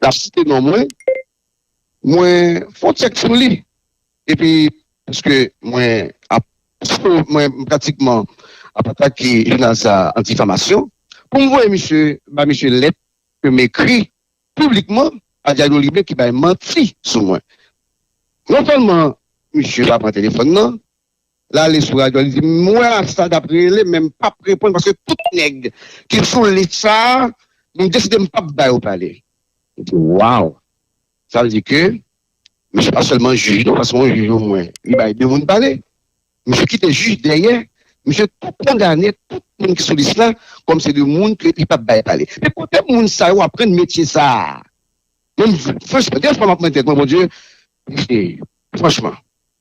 L ap site non mwen, mwen fon tchèk sou li epi pwiske mwen ap mwen pratikman ap atake jounal sa an difamasyon pou m voye misye bay misye lèt ke m ekri piblikman a Dyayo Libre ki bay manti sou mwen. Non sèlman misye pa pran telefòn nan. L ale sou radyo a, li di, M wè Assad ap rele men m pap reponn paske tout nèg ki sou lis sa a, m deside m pap ba yo pale. Li di, Waww! Sa vle di ke misye pa sèlman jij non, paske yon jij omwen li bay de moun pale. Misye kite jij dèyè, misye tou kondane tout moun ki sou lis la kòm se de moun ke li pap bay pale. Men kote moun sa yo aprann metye sa a? Menm franchman gen fwa map mande tèt mwen Bondye rive franchman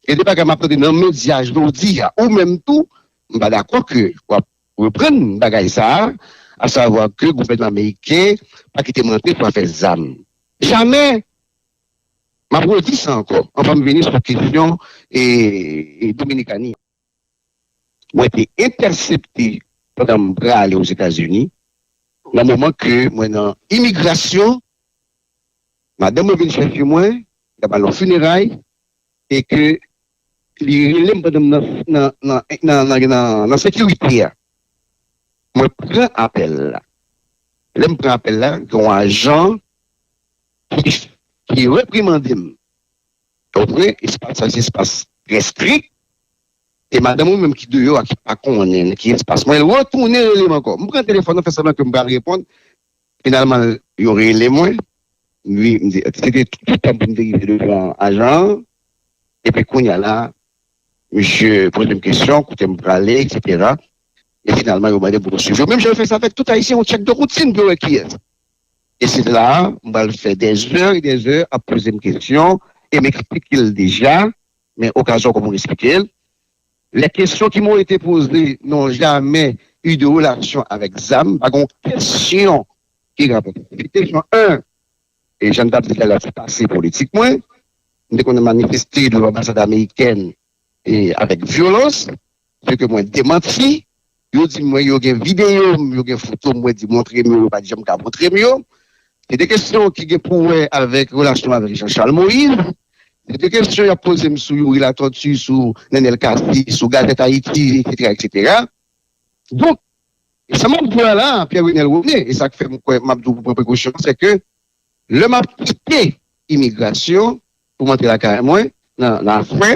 gen de bagay map tande nan medya jodi a ou menm tou m pa dakò ke wap reprann bagay sa a savwa ke gouvènman ameriken pa kite m rantre pou afè zam jamè map redi sa ankò anvan m vini sou kesyon e dominikani an. mwen te entèsepte pandan m prale Ozetazini, nan moman ke mwen nan imigrasyon, madanm mwen vin chèche mwen, li t ap al nan fineray, e ke li rele m pandan m nan sekirite a. Mwen pran apèl la. Lè m pran apèl la, gen yon ajan ki reprimande m. Ou vre espas sa se espas trè strik e madanm ou menm ki deyò a ki pa konnen nan ki espas mwen l retounen rele m ankò m pran telefòn nan fè sanblan ke m pral reponn finalman yo rele mwen wi m di se te tout tan pou m te rive devan ajan an epi kounya la misye poze m kesyon kote m prale eksetera e finalman yo mande m pou m swiv yo menm jan yo fè sa avèk tout ayisyen yon tchèk de woutin pou yo wè kiyès E se la a m pral fè dè zè e dè zè ap poze m kesyon e m eksplike l deja, men okazyon kòm moun eksplike l. Lè kesyon ki m o ete poze non jamè u de relasyon avèk zam, pa gen yon kesyon ki rapòte avèk li. Kesyon 1, e jan m t ap di talè se pase politik mwen, m te konnen manifeste devan anbasad amerikèn e avèk vyolans. Se ke mwen demanti. Yo di mwen yo gen videyo m, yo gen foto m, mwen di montre m yo, yo pa t janm ka montre m yo. Se de kesyon ki gen pou wè avèk relasyon m avèk Jean Charles Moïse. Se de kesyon y ap poze m sou Youri Latortue, sou Nenel Cassy, sou Gazette Haïti, etc. etc. Donk, sa m ap di w la la a, Pierre Renel Rene, e sa k fè m kwè m ap di w pou w pran prekosyon, se ke lè m ap kite imigrasyon pou m antre lakay mwen nan afè,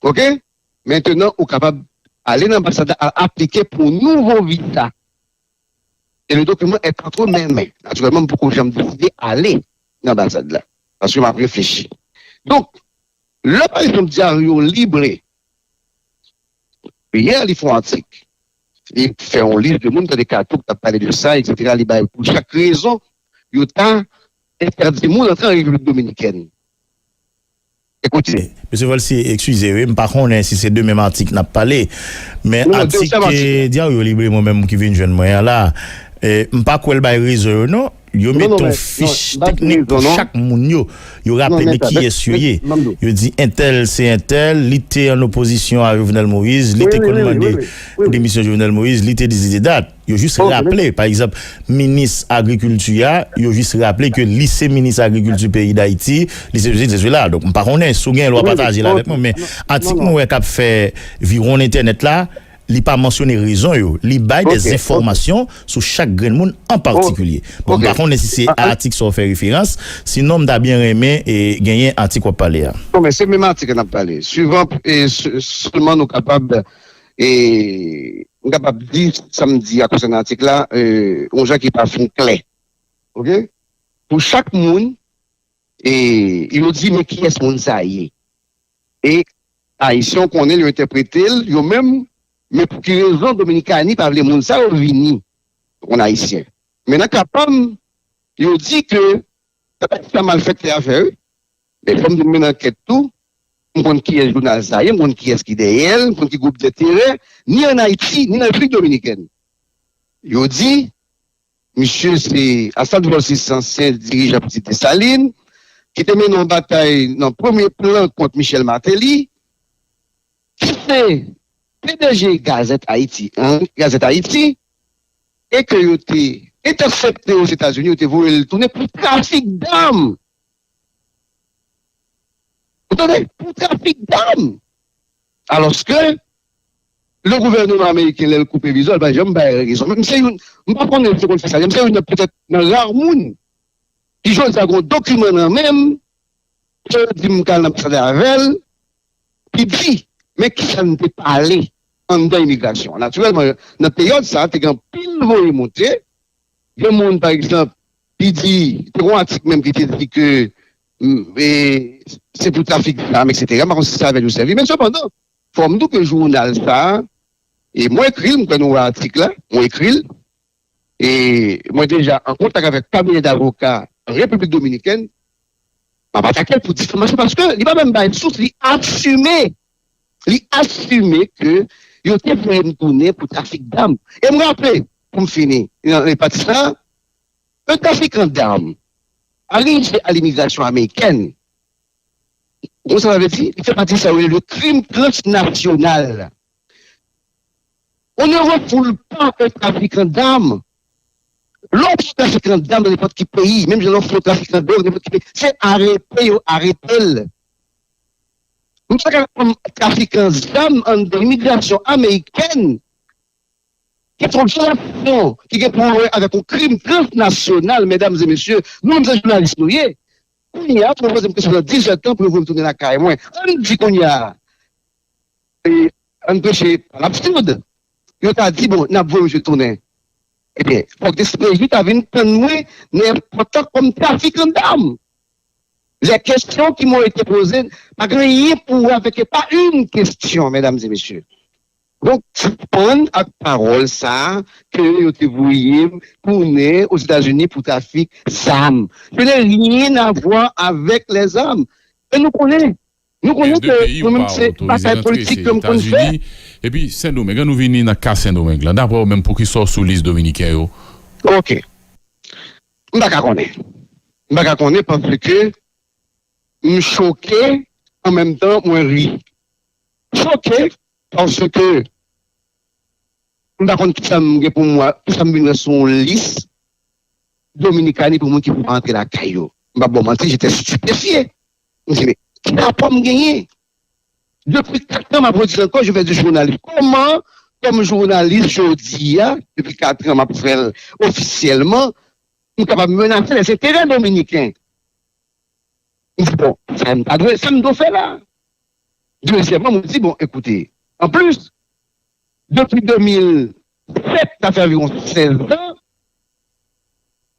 Ok mentenan ou kapab ale nan anbasad la al aplike pou yon nouvo visa e le dokiman est entre mes mains natirèlman m poko janm deside ale nan anbasad la paske map reflechi donk lè pa ekzanp Diario Libre yè li fè yon atik li fè yon lis de moun tande Kato ki tap pale de sa eksetera li bay pou chak rezon yo ta entèdi moun antre an Repiblik Dominikèn Mesye Volcy, ekskize wi, m pa konnen si se de menm atik n ap pale. Men atik Diario Libre mwen menm ki vin jwenn mwen an la, m pa kwè l bay rezon yo non. Yo mete yon fich teknik pou chak moun yo. Yo raple de kiyès yo ye. Yo di entèl se entèl, li te an opozisyon a Jovenel Moïse, li te konn mande demisyon Jovenel Moïse, li te disididat. Yo jis raple, pa egzanp, minis agrikilti a, yo jis raple ke li se minis agrikilti peyi Dayiti, li se sesi, li se sela. Donk m pa konnen, si w gen l w a pataje l avèk mwen. Men, atik mwen wè k ap fè viwonn entènèt la, li pa mansyone rezon yo. Li bay dè enfòmasyon sou chak grenn moun an patikilye. Bon, m pa konnen si se a atik sa w fè referans, sinon m ta byen renmen genyen atik w ap pale a. Non, men se menm atik la n ap pale. Suivan, sèlman nou kapab. e m kapab di sa m di a konsènan atik la yon jan ki pa fin klè ok pou chak moun e yo di men kiyès moun sa ye e ayisyen yo konnen l yo entèprete l yo menm men pou ki rezon dominikani pa vle moun sa yo vini an ayisyen men nan ka pa m yo di ke se pa sa malfèktè a fè wi. E fò m di m mennen ankèt tou, m konn kiyès jounal sa ye, m konn kiyès ki dèyè l, m konn ki gwoup denterè, ni ann Ayiti, ni nan Repiblik Dominikèn. Yo di, misye se Asad Vòlsis, ansyen dirijan Pitit Desalin, ki te mennen yon batay nan premye plan kont Michèl Mateli, ki se pdg Gazette Haïti an, Gazette Haïti, e ke yo te entèsepte Ozetazini, yo te voye l tounen pou trafik dam! Ou tande? Pou trafik dam! Alòske, le gouvèneman ameriken lè l koupe viza l pa janm bay rezon. Mwen se youn, m pa konnen si yo konn fè sa, mwen se youn nan petèt nan rare moun ki jodi a gen yon dokiman nan men m ke yo di m ka al nan anbasad la avè l ki di men kisa n te pale anndan imigrasyon. Natirèlman, nan peryòd sa a te gen anpil voye monte, gen moun pa egzanp Li di, te gen yon atik menm ki te di ke se pou trafik zam eksetera, m pa konn si se avè l yo sèvi men sepandan fò m di w ke jounal sa a, e mwen ekri l, m kwè nou wè atik la, mwen ekri l, e mwen deja an kontak avèk kabinè davoka Repiblik Dominikèn, m ap atake l pou difamasyon paske li pa menm bay sous, li asime, li asime ke yo te voye m tounen pou trafik zam. E m raple, pou m fini nan pati sa a, Yon trafikan dam arive a limigrasyon amerikèn, wè sa vle di, li fè pati sa yo rele krim transnasyonal. On ne refoule pas un trafiquant d'armes, lè w pran yon trafikan dam nan nenpòt ki peyi, menm jan lè w fè yon trafikan dwòg nan nenpòt ki peyi, se arete yo arete l. M pa ka konn trafikan zam anndan imigrasyon amerikèn. Kesyon vyolasyon ki gen pou wè avèk yon krim transnasyonal, medam e mesye, nou menm se jounalis nou ye. Kounye a, si yo poze m kesyon nan 10 zè tan pou yo voye m tounen lakay mwen, ann di kounye a, ann preche pawòl absid, yo ta di bon, n ap voye misye tounen. Ebyen, fòk dcpj ta vin tann mwen nan èpòt la kòm trafikan dam. Lè kesyon ki mwen te poze pa gen anyen pou wè avèk, pa yn kesyon, medam e mesye. Donk, sispann ak pawòl sa a ke yo te voye m tounen Ozetazini pou trafik zam. Je n'ai rien à voir avec les armes. E nou konnen, nou konnen ke mwen menm se batay politik ke m konn fè. Epi Sendomeng, an nou vini nan ka Sendomeng lan. Dapre ou menm, poukisa w sou lis Dominiken yo? Ok. M pa ka konnen. M pa ka konnen paske m choke an menm tan mwen ri. Choke Paske m pa konn kisa m gen pou m wè, kisa m vin wè sou yon lis Dominikani pou moun ki pou antre lakay yo. M pap ba w manti, jete stipefye. M di men, ki rapò m genyen? Depi 4 an m ap redi l ankò, je fè di jounalis. Kòman kòm jounalis jodi a, depi 4 an m ap fè l ofisyèlman, m kapab menase lèzenterè dominiken? Li di, Bon, sa m ta dwe, sa m dwe fè la? Dezyèmman, mwen di, Bon, ekoute, anplis, depi 2007, sa fè anviwon 16 zan,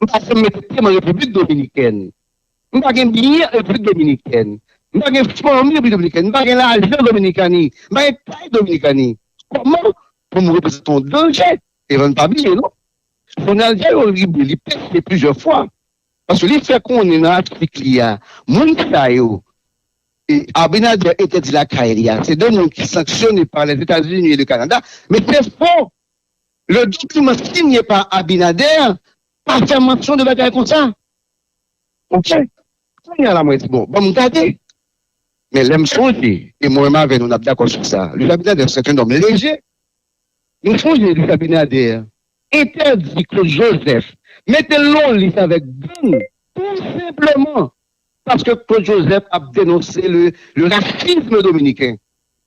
m pa janm mete pye m an Repiblik Dominikèn. M pa gen byen an Repiblik Dominikèn. M pa gen fanmi an Repiblik Dominikèn. M pa gen lajan an Dominikani. M pa gen kay Dominikani. Kòman pou m reprezante yon danje devan l? Pa bliye non, Jounal Diario Libre li peche plizyè fwa Paske li fè konnen nan atik li a, moun sa yo ke Abinader entèdi lakay li a, se 2 moun ki sanksyone pa Lèzetazini e le Kanada, men se fo! Le dokiman sinye pa Abinader pa fè mansyon de bagay konsa. Ok, kounye a la mwen di bon, ban m gade. Men lè m sonje, e mwen menm avè nou n ap dakò sou sa, Luis Abinader se t un homme leje. Nou sonje Luis Abinader entèdi Claude Joseph mete lon lis avèk gang tou senpleman paske Claude Joseph ap denonse le racisme dominicain.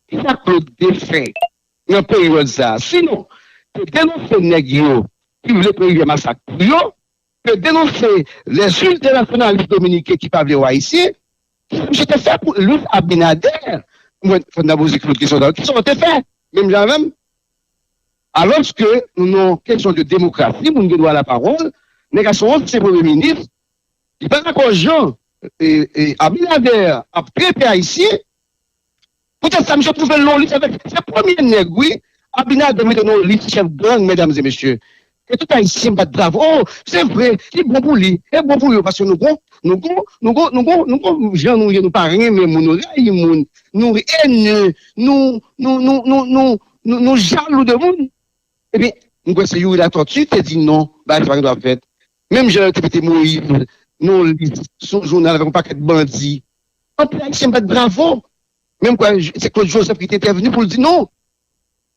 Ki sa Claude te fè nan peryòd sa a sinon ke denonse nèg yo ki vle pran Rivyè Masak pou yo, ke denonse les ultranasyonalis dominiken ki pa vle wè Ayisyen? Ki sa misye te fè pou Luis Abinader? Mwen fò n ta poze Claude kesyon sa a tou. Ki sa w te fè? Menm jan avè m? Alòske nou nan yon kesyon de demokrasi, moun gen dwa lapawòl, nèg a se yon ansyen premye minis, li pa dakò jan Abinader ap trete Ayisyen, poutèt sa misye twouve l nan yon lis avèk, se premye nèg wi Abinader mete nan yon lis chèf gang, mèdam e mesye, E tout ayisyen bat bravo oh se vre li bon pou li e bon pou yo paske nou gon nou gon nou gon nou gon nou gon jan nou ye nou pa renmen moun nou rayi moun nou enye nou nou nou nou nou nou nou jalou de moun ebyen m kwè se youri latòti te di non bagay sa pa gen dwa fèt menm jan yo te mete moyiz nan yon lis sou yon jounal avèk yon pakèt bandi anpil ayisyen bat bravo men m kwè se klod jozèf ki te entèvni pou l di non.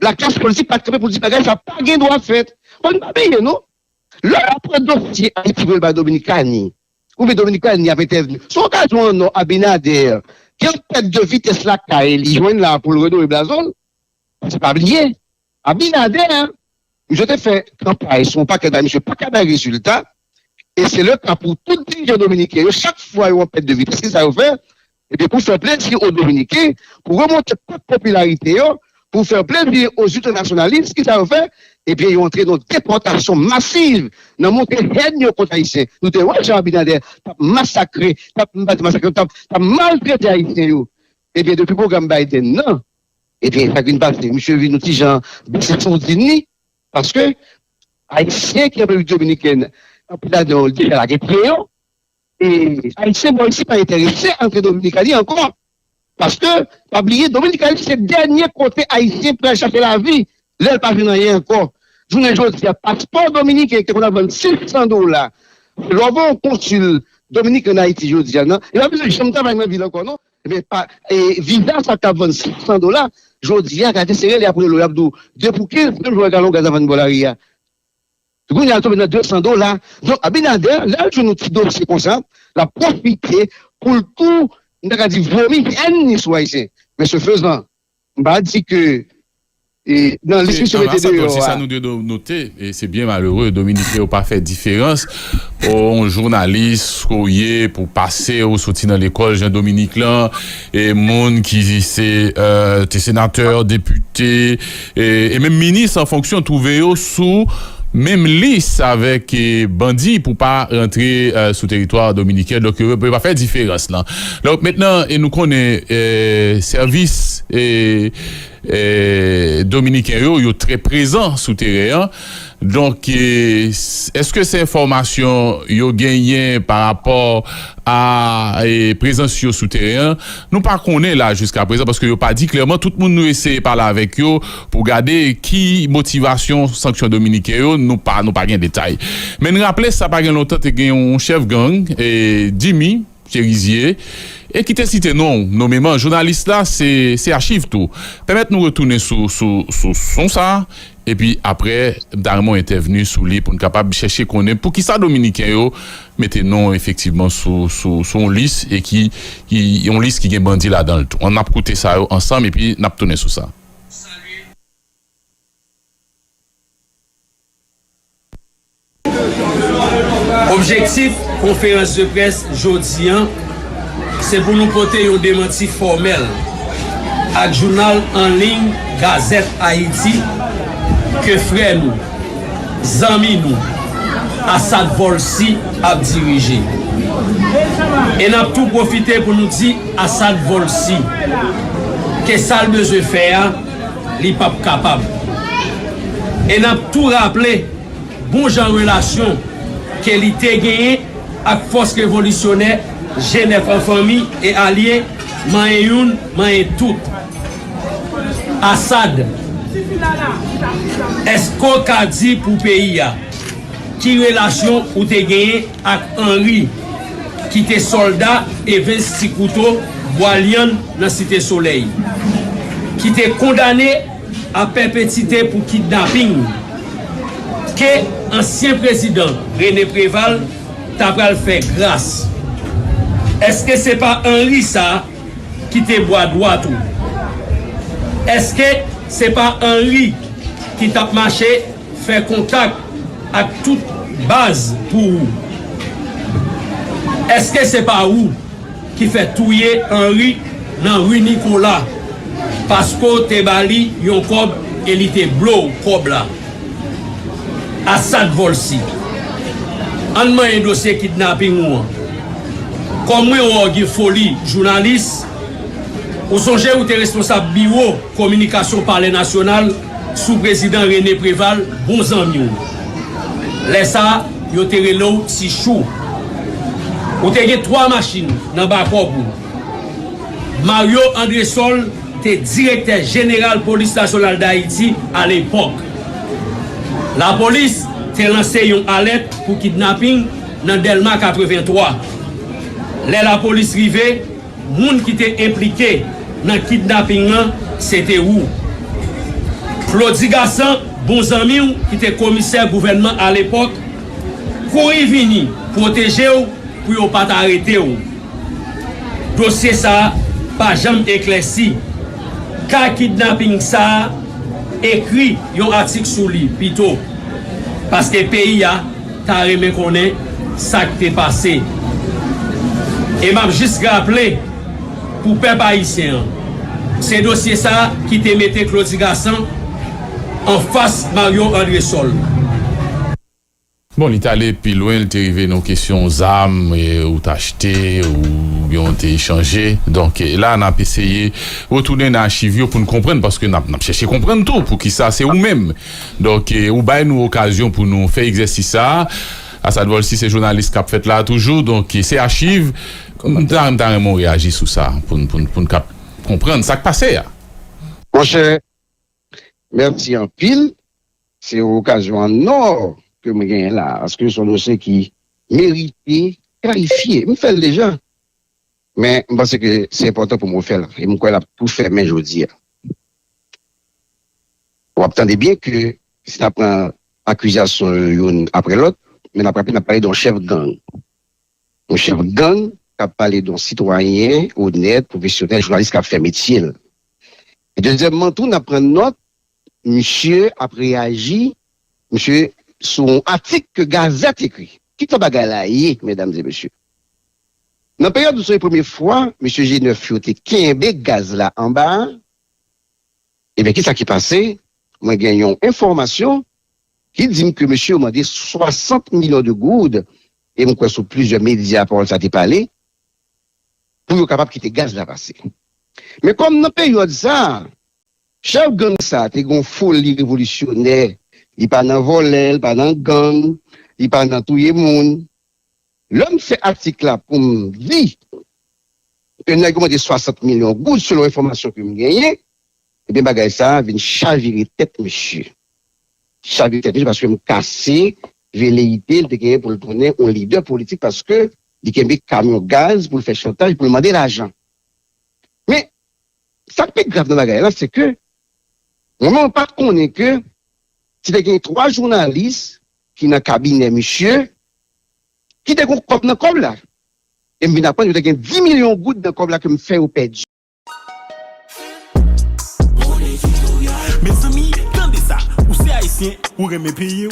Laklas politik pa t kanpe pou di bagay sa pa gen dwa fèt. Bon n pa bliye non, lè yo pran dosye Ayiti pou yo l bay Dominikani, oubyen Dominikani ap entèvni, se yon okazyon an nò Abinader gen yon pèt de vitès lakay li jwenn la pou l redore blazo l. Paske pa bliye, Abinader, misye te fè kanpay sou yon pakèt bagay misye pa ka bay rezilta, e se le ka pou tout dirijan dominiken yo, chak fwa yo an pèt de vitès, ki sa yo fè? Ebyen pou fè plezi o dominiken, pou remonte pant popilarite yo, pou fè plezi o ziltanasyonalis kisa yo fè? Ebyen yo antre nan depòtasyon masiv, nan montre hèn yo kont ayisyen. Nou te wè jan Abinader tap masakre, tap m pa di masakre, tap maltrete ayisyen yo. Ebyen depi pwogram Biden nan, ebyen sak vin pase? Misye vin yon ti jan bese sourdin li, paske ayisyen ki nan repiblik dominikèn anpil ladan yo deja lage pye yo. E Ayisyen bò isi pa enterese antre Dominikani ankò paske pa bliye Dominikani se dènye kote Ayisyen pral chache lavi lè l pa jwenn anyen ankò. Jounen jodi a paspò dominiken ki te konn ap vann 500 dola lè w gen yon konsil Dominik ann Ayiti jodi a nan li pa bezwen janm travay nan vil ankò non ebyen pa viza sa k t ap vann 500 dola jodi a gade se rele apre lò y ap di w 2 pou 15 menm jan w wè galon gaz ap vann bò lari a. Kounye a l tonbe nan 200 dola. Donk Abinader lè l jwenn yon ti dosye konsa, l ap pwofite pou l tou, m ta ka di vomi hèn ni sou Ayisyen. Men se fezan, m pa di ke nan lis misye mete deyò a. Se sa nou dwe note, e se byen malere, Dominiken yo pa fè diferans o yon jounalis ke w ye pou w pase, ou soti nan lekòl jan Dominik lan, e moun ki se te senatè, depite. e menm minis an fonksyon twouve yo sou menm lis avèk bandi pou pa rantre sou teritwa dominiken donk yo pa fè diferans lan donk mentnan nou konnen sèvis dominiken yo yo trè prezan sou teren an. Donk, èske se enfòmasyon yo genyen pa rapò a prezans yo sou teren an? Nou pa konnen la jiskaprezan paske yo pa di klèman. Tout moun nou eseye pale avèk yo pou gade ki motivasyon sanksyon dominiken yo, nou pa gen detay. Men n raple sa pa gen lontan te gen yon chèf gang, Dimy, Cherizier, e ki te site non ou nomeman jounalis la, se se achiv tou. Pèmèt nou retounen sou sou sou son sa a, epi apre m ta renmen w entèvni sou li pou n kapab chèche konnen pou kisa dominiken yo mete non w efektivman sou sou sou yon lis e ki ki yon lis ki gen bandi ladan l tou. An n ap koute sa yo ansanm epi n ap tounen sou sa. Objektif konferans de près jodi an se pou nou pote yon demanti fòmèl ak jounal an liy Gazette Haïti ke frè nou, zanmi nou, Assad Volcy ap dirije. E n ap tou pwofite pou nou di Assad Volcy ke sa l bezwen fè a, Li pap kapab. E n ap tou raple bon jan relasyon ke li te genyen ak fòs revolisyonè Jenèf an fanmi e alye manyen youn manyen tout. Assad, èske w ka di pou peyi a. Ki relasyon ou te genyen ak Henri ki te sòlda Evens Ti Kouto Bwa Lyann nan Site Solèy, ki te kondane a pèpetite pou kidnaping ke ansyen prezidan René Préval ta pral fè gras? Eske se pa Henri sa ki te bwa dwat ou? Eske se pa Henri ki tap mache Fè kontak ak tout baz pou ou. Eske se pa ou ki fè touye Henry nan rue Nicolas paske w te ba li yon kòb e li te blo w kòb la? Assad Volcy, Ann manyen dosye kidnapping ou an. Kòm mwen wè w gen foli jounalis, ou sonje ou te responsab biwo kominikasyon palè nasyonal? Sou prezidan Rene Preval bon zanmi w. Lè sa yo te rele w ti chou. Ou te gen 3 machin nan bakòb ou. Mario Andresol te direktè jeneral polis nasyonal Dayiti alepòk. Lapolis te lanse yon alèt pou kidnaping nan Dèlma 83. Lè lapolis rive. Moun ki te enplike nan kidnaping lan se te ou. Claudy Gassant, bon zanmi w ki te komisè gouvènman alepòk, kouri vini pwoteje w pou yo pa t arete w. Dosye sa a pa janm eklèsi. Ka kidnaping sa a, ekri yon atik sou li pito. Paske peyi a. ta renmen konnen sak te pase e map jis raple pou pèp ayisyen an se dosye sa ki te mete Claudy Gassant anfas Marion Andrésol. Bon li t ale pi lwen li te rive nan yon kesyon zam ou t achte oubyen ou te echanje donk la n ap eseye retounen nan achiv yo pou n konprann paske n ap chèche konprann tou poukisa se ou menm Donk ou bay nou okazyon pou nou fè egzèsis sa a. Asad Volcy se jounalis k ap fèt la a toujou, donk se achiv. M ta m ta renmen w reyaji sou sa pou n pou n pou n kab konprann sa k pase a. Monchè, mèsi anpil. Se yon okazyon an ò ke m genyen la a, paske se yon dosye ki merite kalifye. M fè l deja. Men, m panse ke se enpòtan pou m refè l, e m kwè l ap tou fèmen jodi a. W ap tande byen ke si n ap pran akizasyon yo youn apre lòt, men n ap raple n ap pale de yon chèf gang. Yon chèf gang k ap pale de yon sitwayen onèt, pwofesyonèl, jounalis k ap fè metye l. E dezyèmman tou, n ap pran nòt Misye ap reyaji misye sou yon atik ke gazèt ekri. Ki tan bagay la ye medam e mesye? Nan peryòd nou se premye fwa mesye G9 yo te kenbe gaz la anba a, ebyen ki sa ki pase? Mwen gen yon enfòmasyon ki di m ke mesye yo mande 60 milyon de goud e m kwè sou plizyè medya pawòl sa te pale pou yo kapab kite gaz la pase. Men kòm nan peryòd sa a Chèf gang sa te gon foli revolisyonè, li pa nan vòlè, li pa nan gang, li pa nan touye moun. Lè m fè atik la pou m di ke nèg yo mande 60 milyon goud selon enfòmasyon ke m genyen, ebyen bagay sa vin chavire tèt misye. Chavire tèt misye paske m kase veleyite li te genyen pou l tounen yon lidè politik paske li kenbe kamyon gaz pou l fè chantaj, pou l mande lajan. Men, Sa k pi grav nan bagay la se ke mwen menm pa t konnen ke se te gen 3 jounalis ki nan kabinè misye ki te gen kòb nan kòb la e m vin aprann yo te gen 10 milyon goud nan kòb la ke m fè yo pèdi. Mezanmi tande sa ou se ayisyen ou renmen peyiw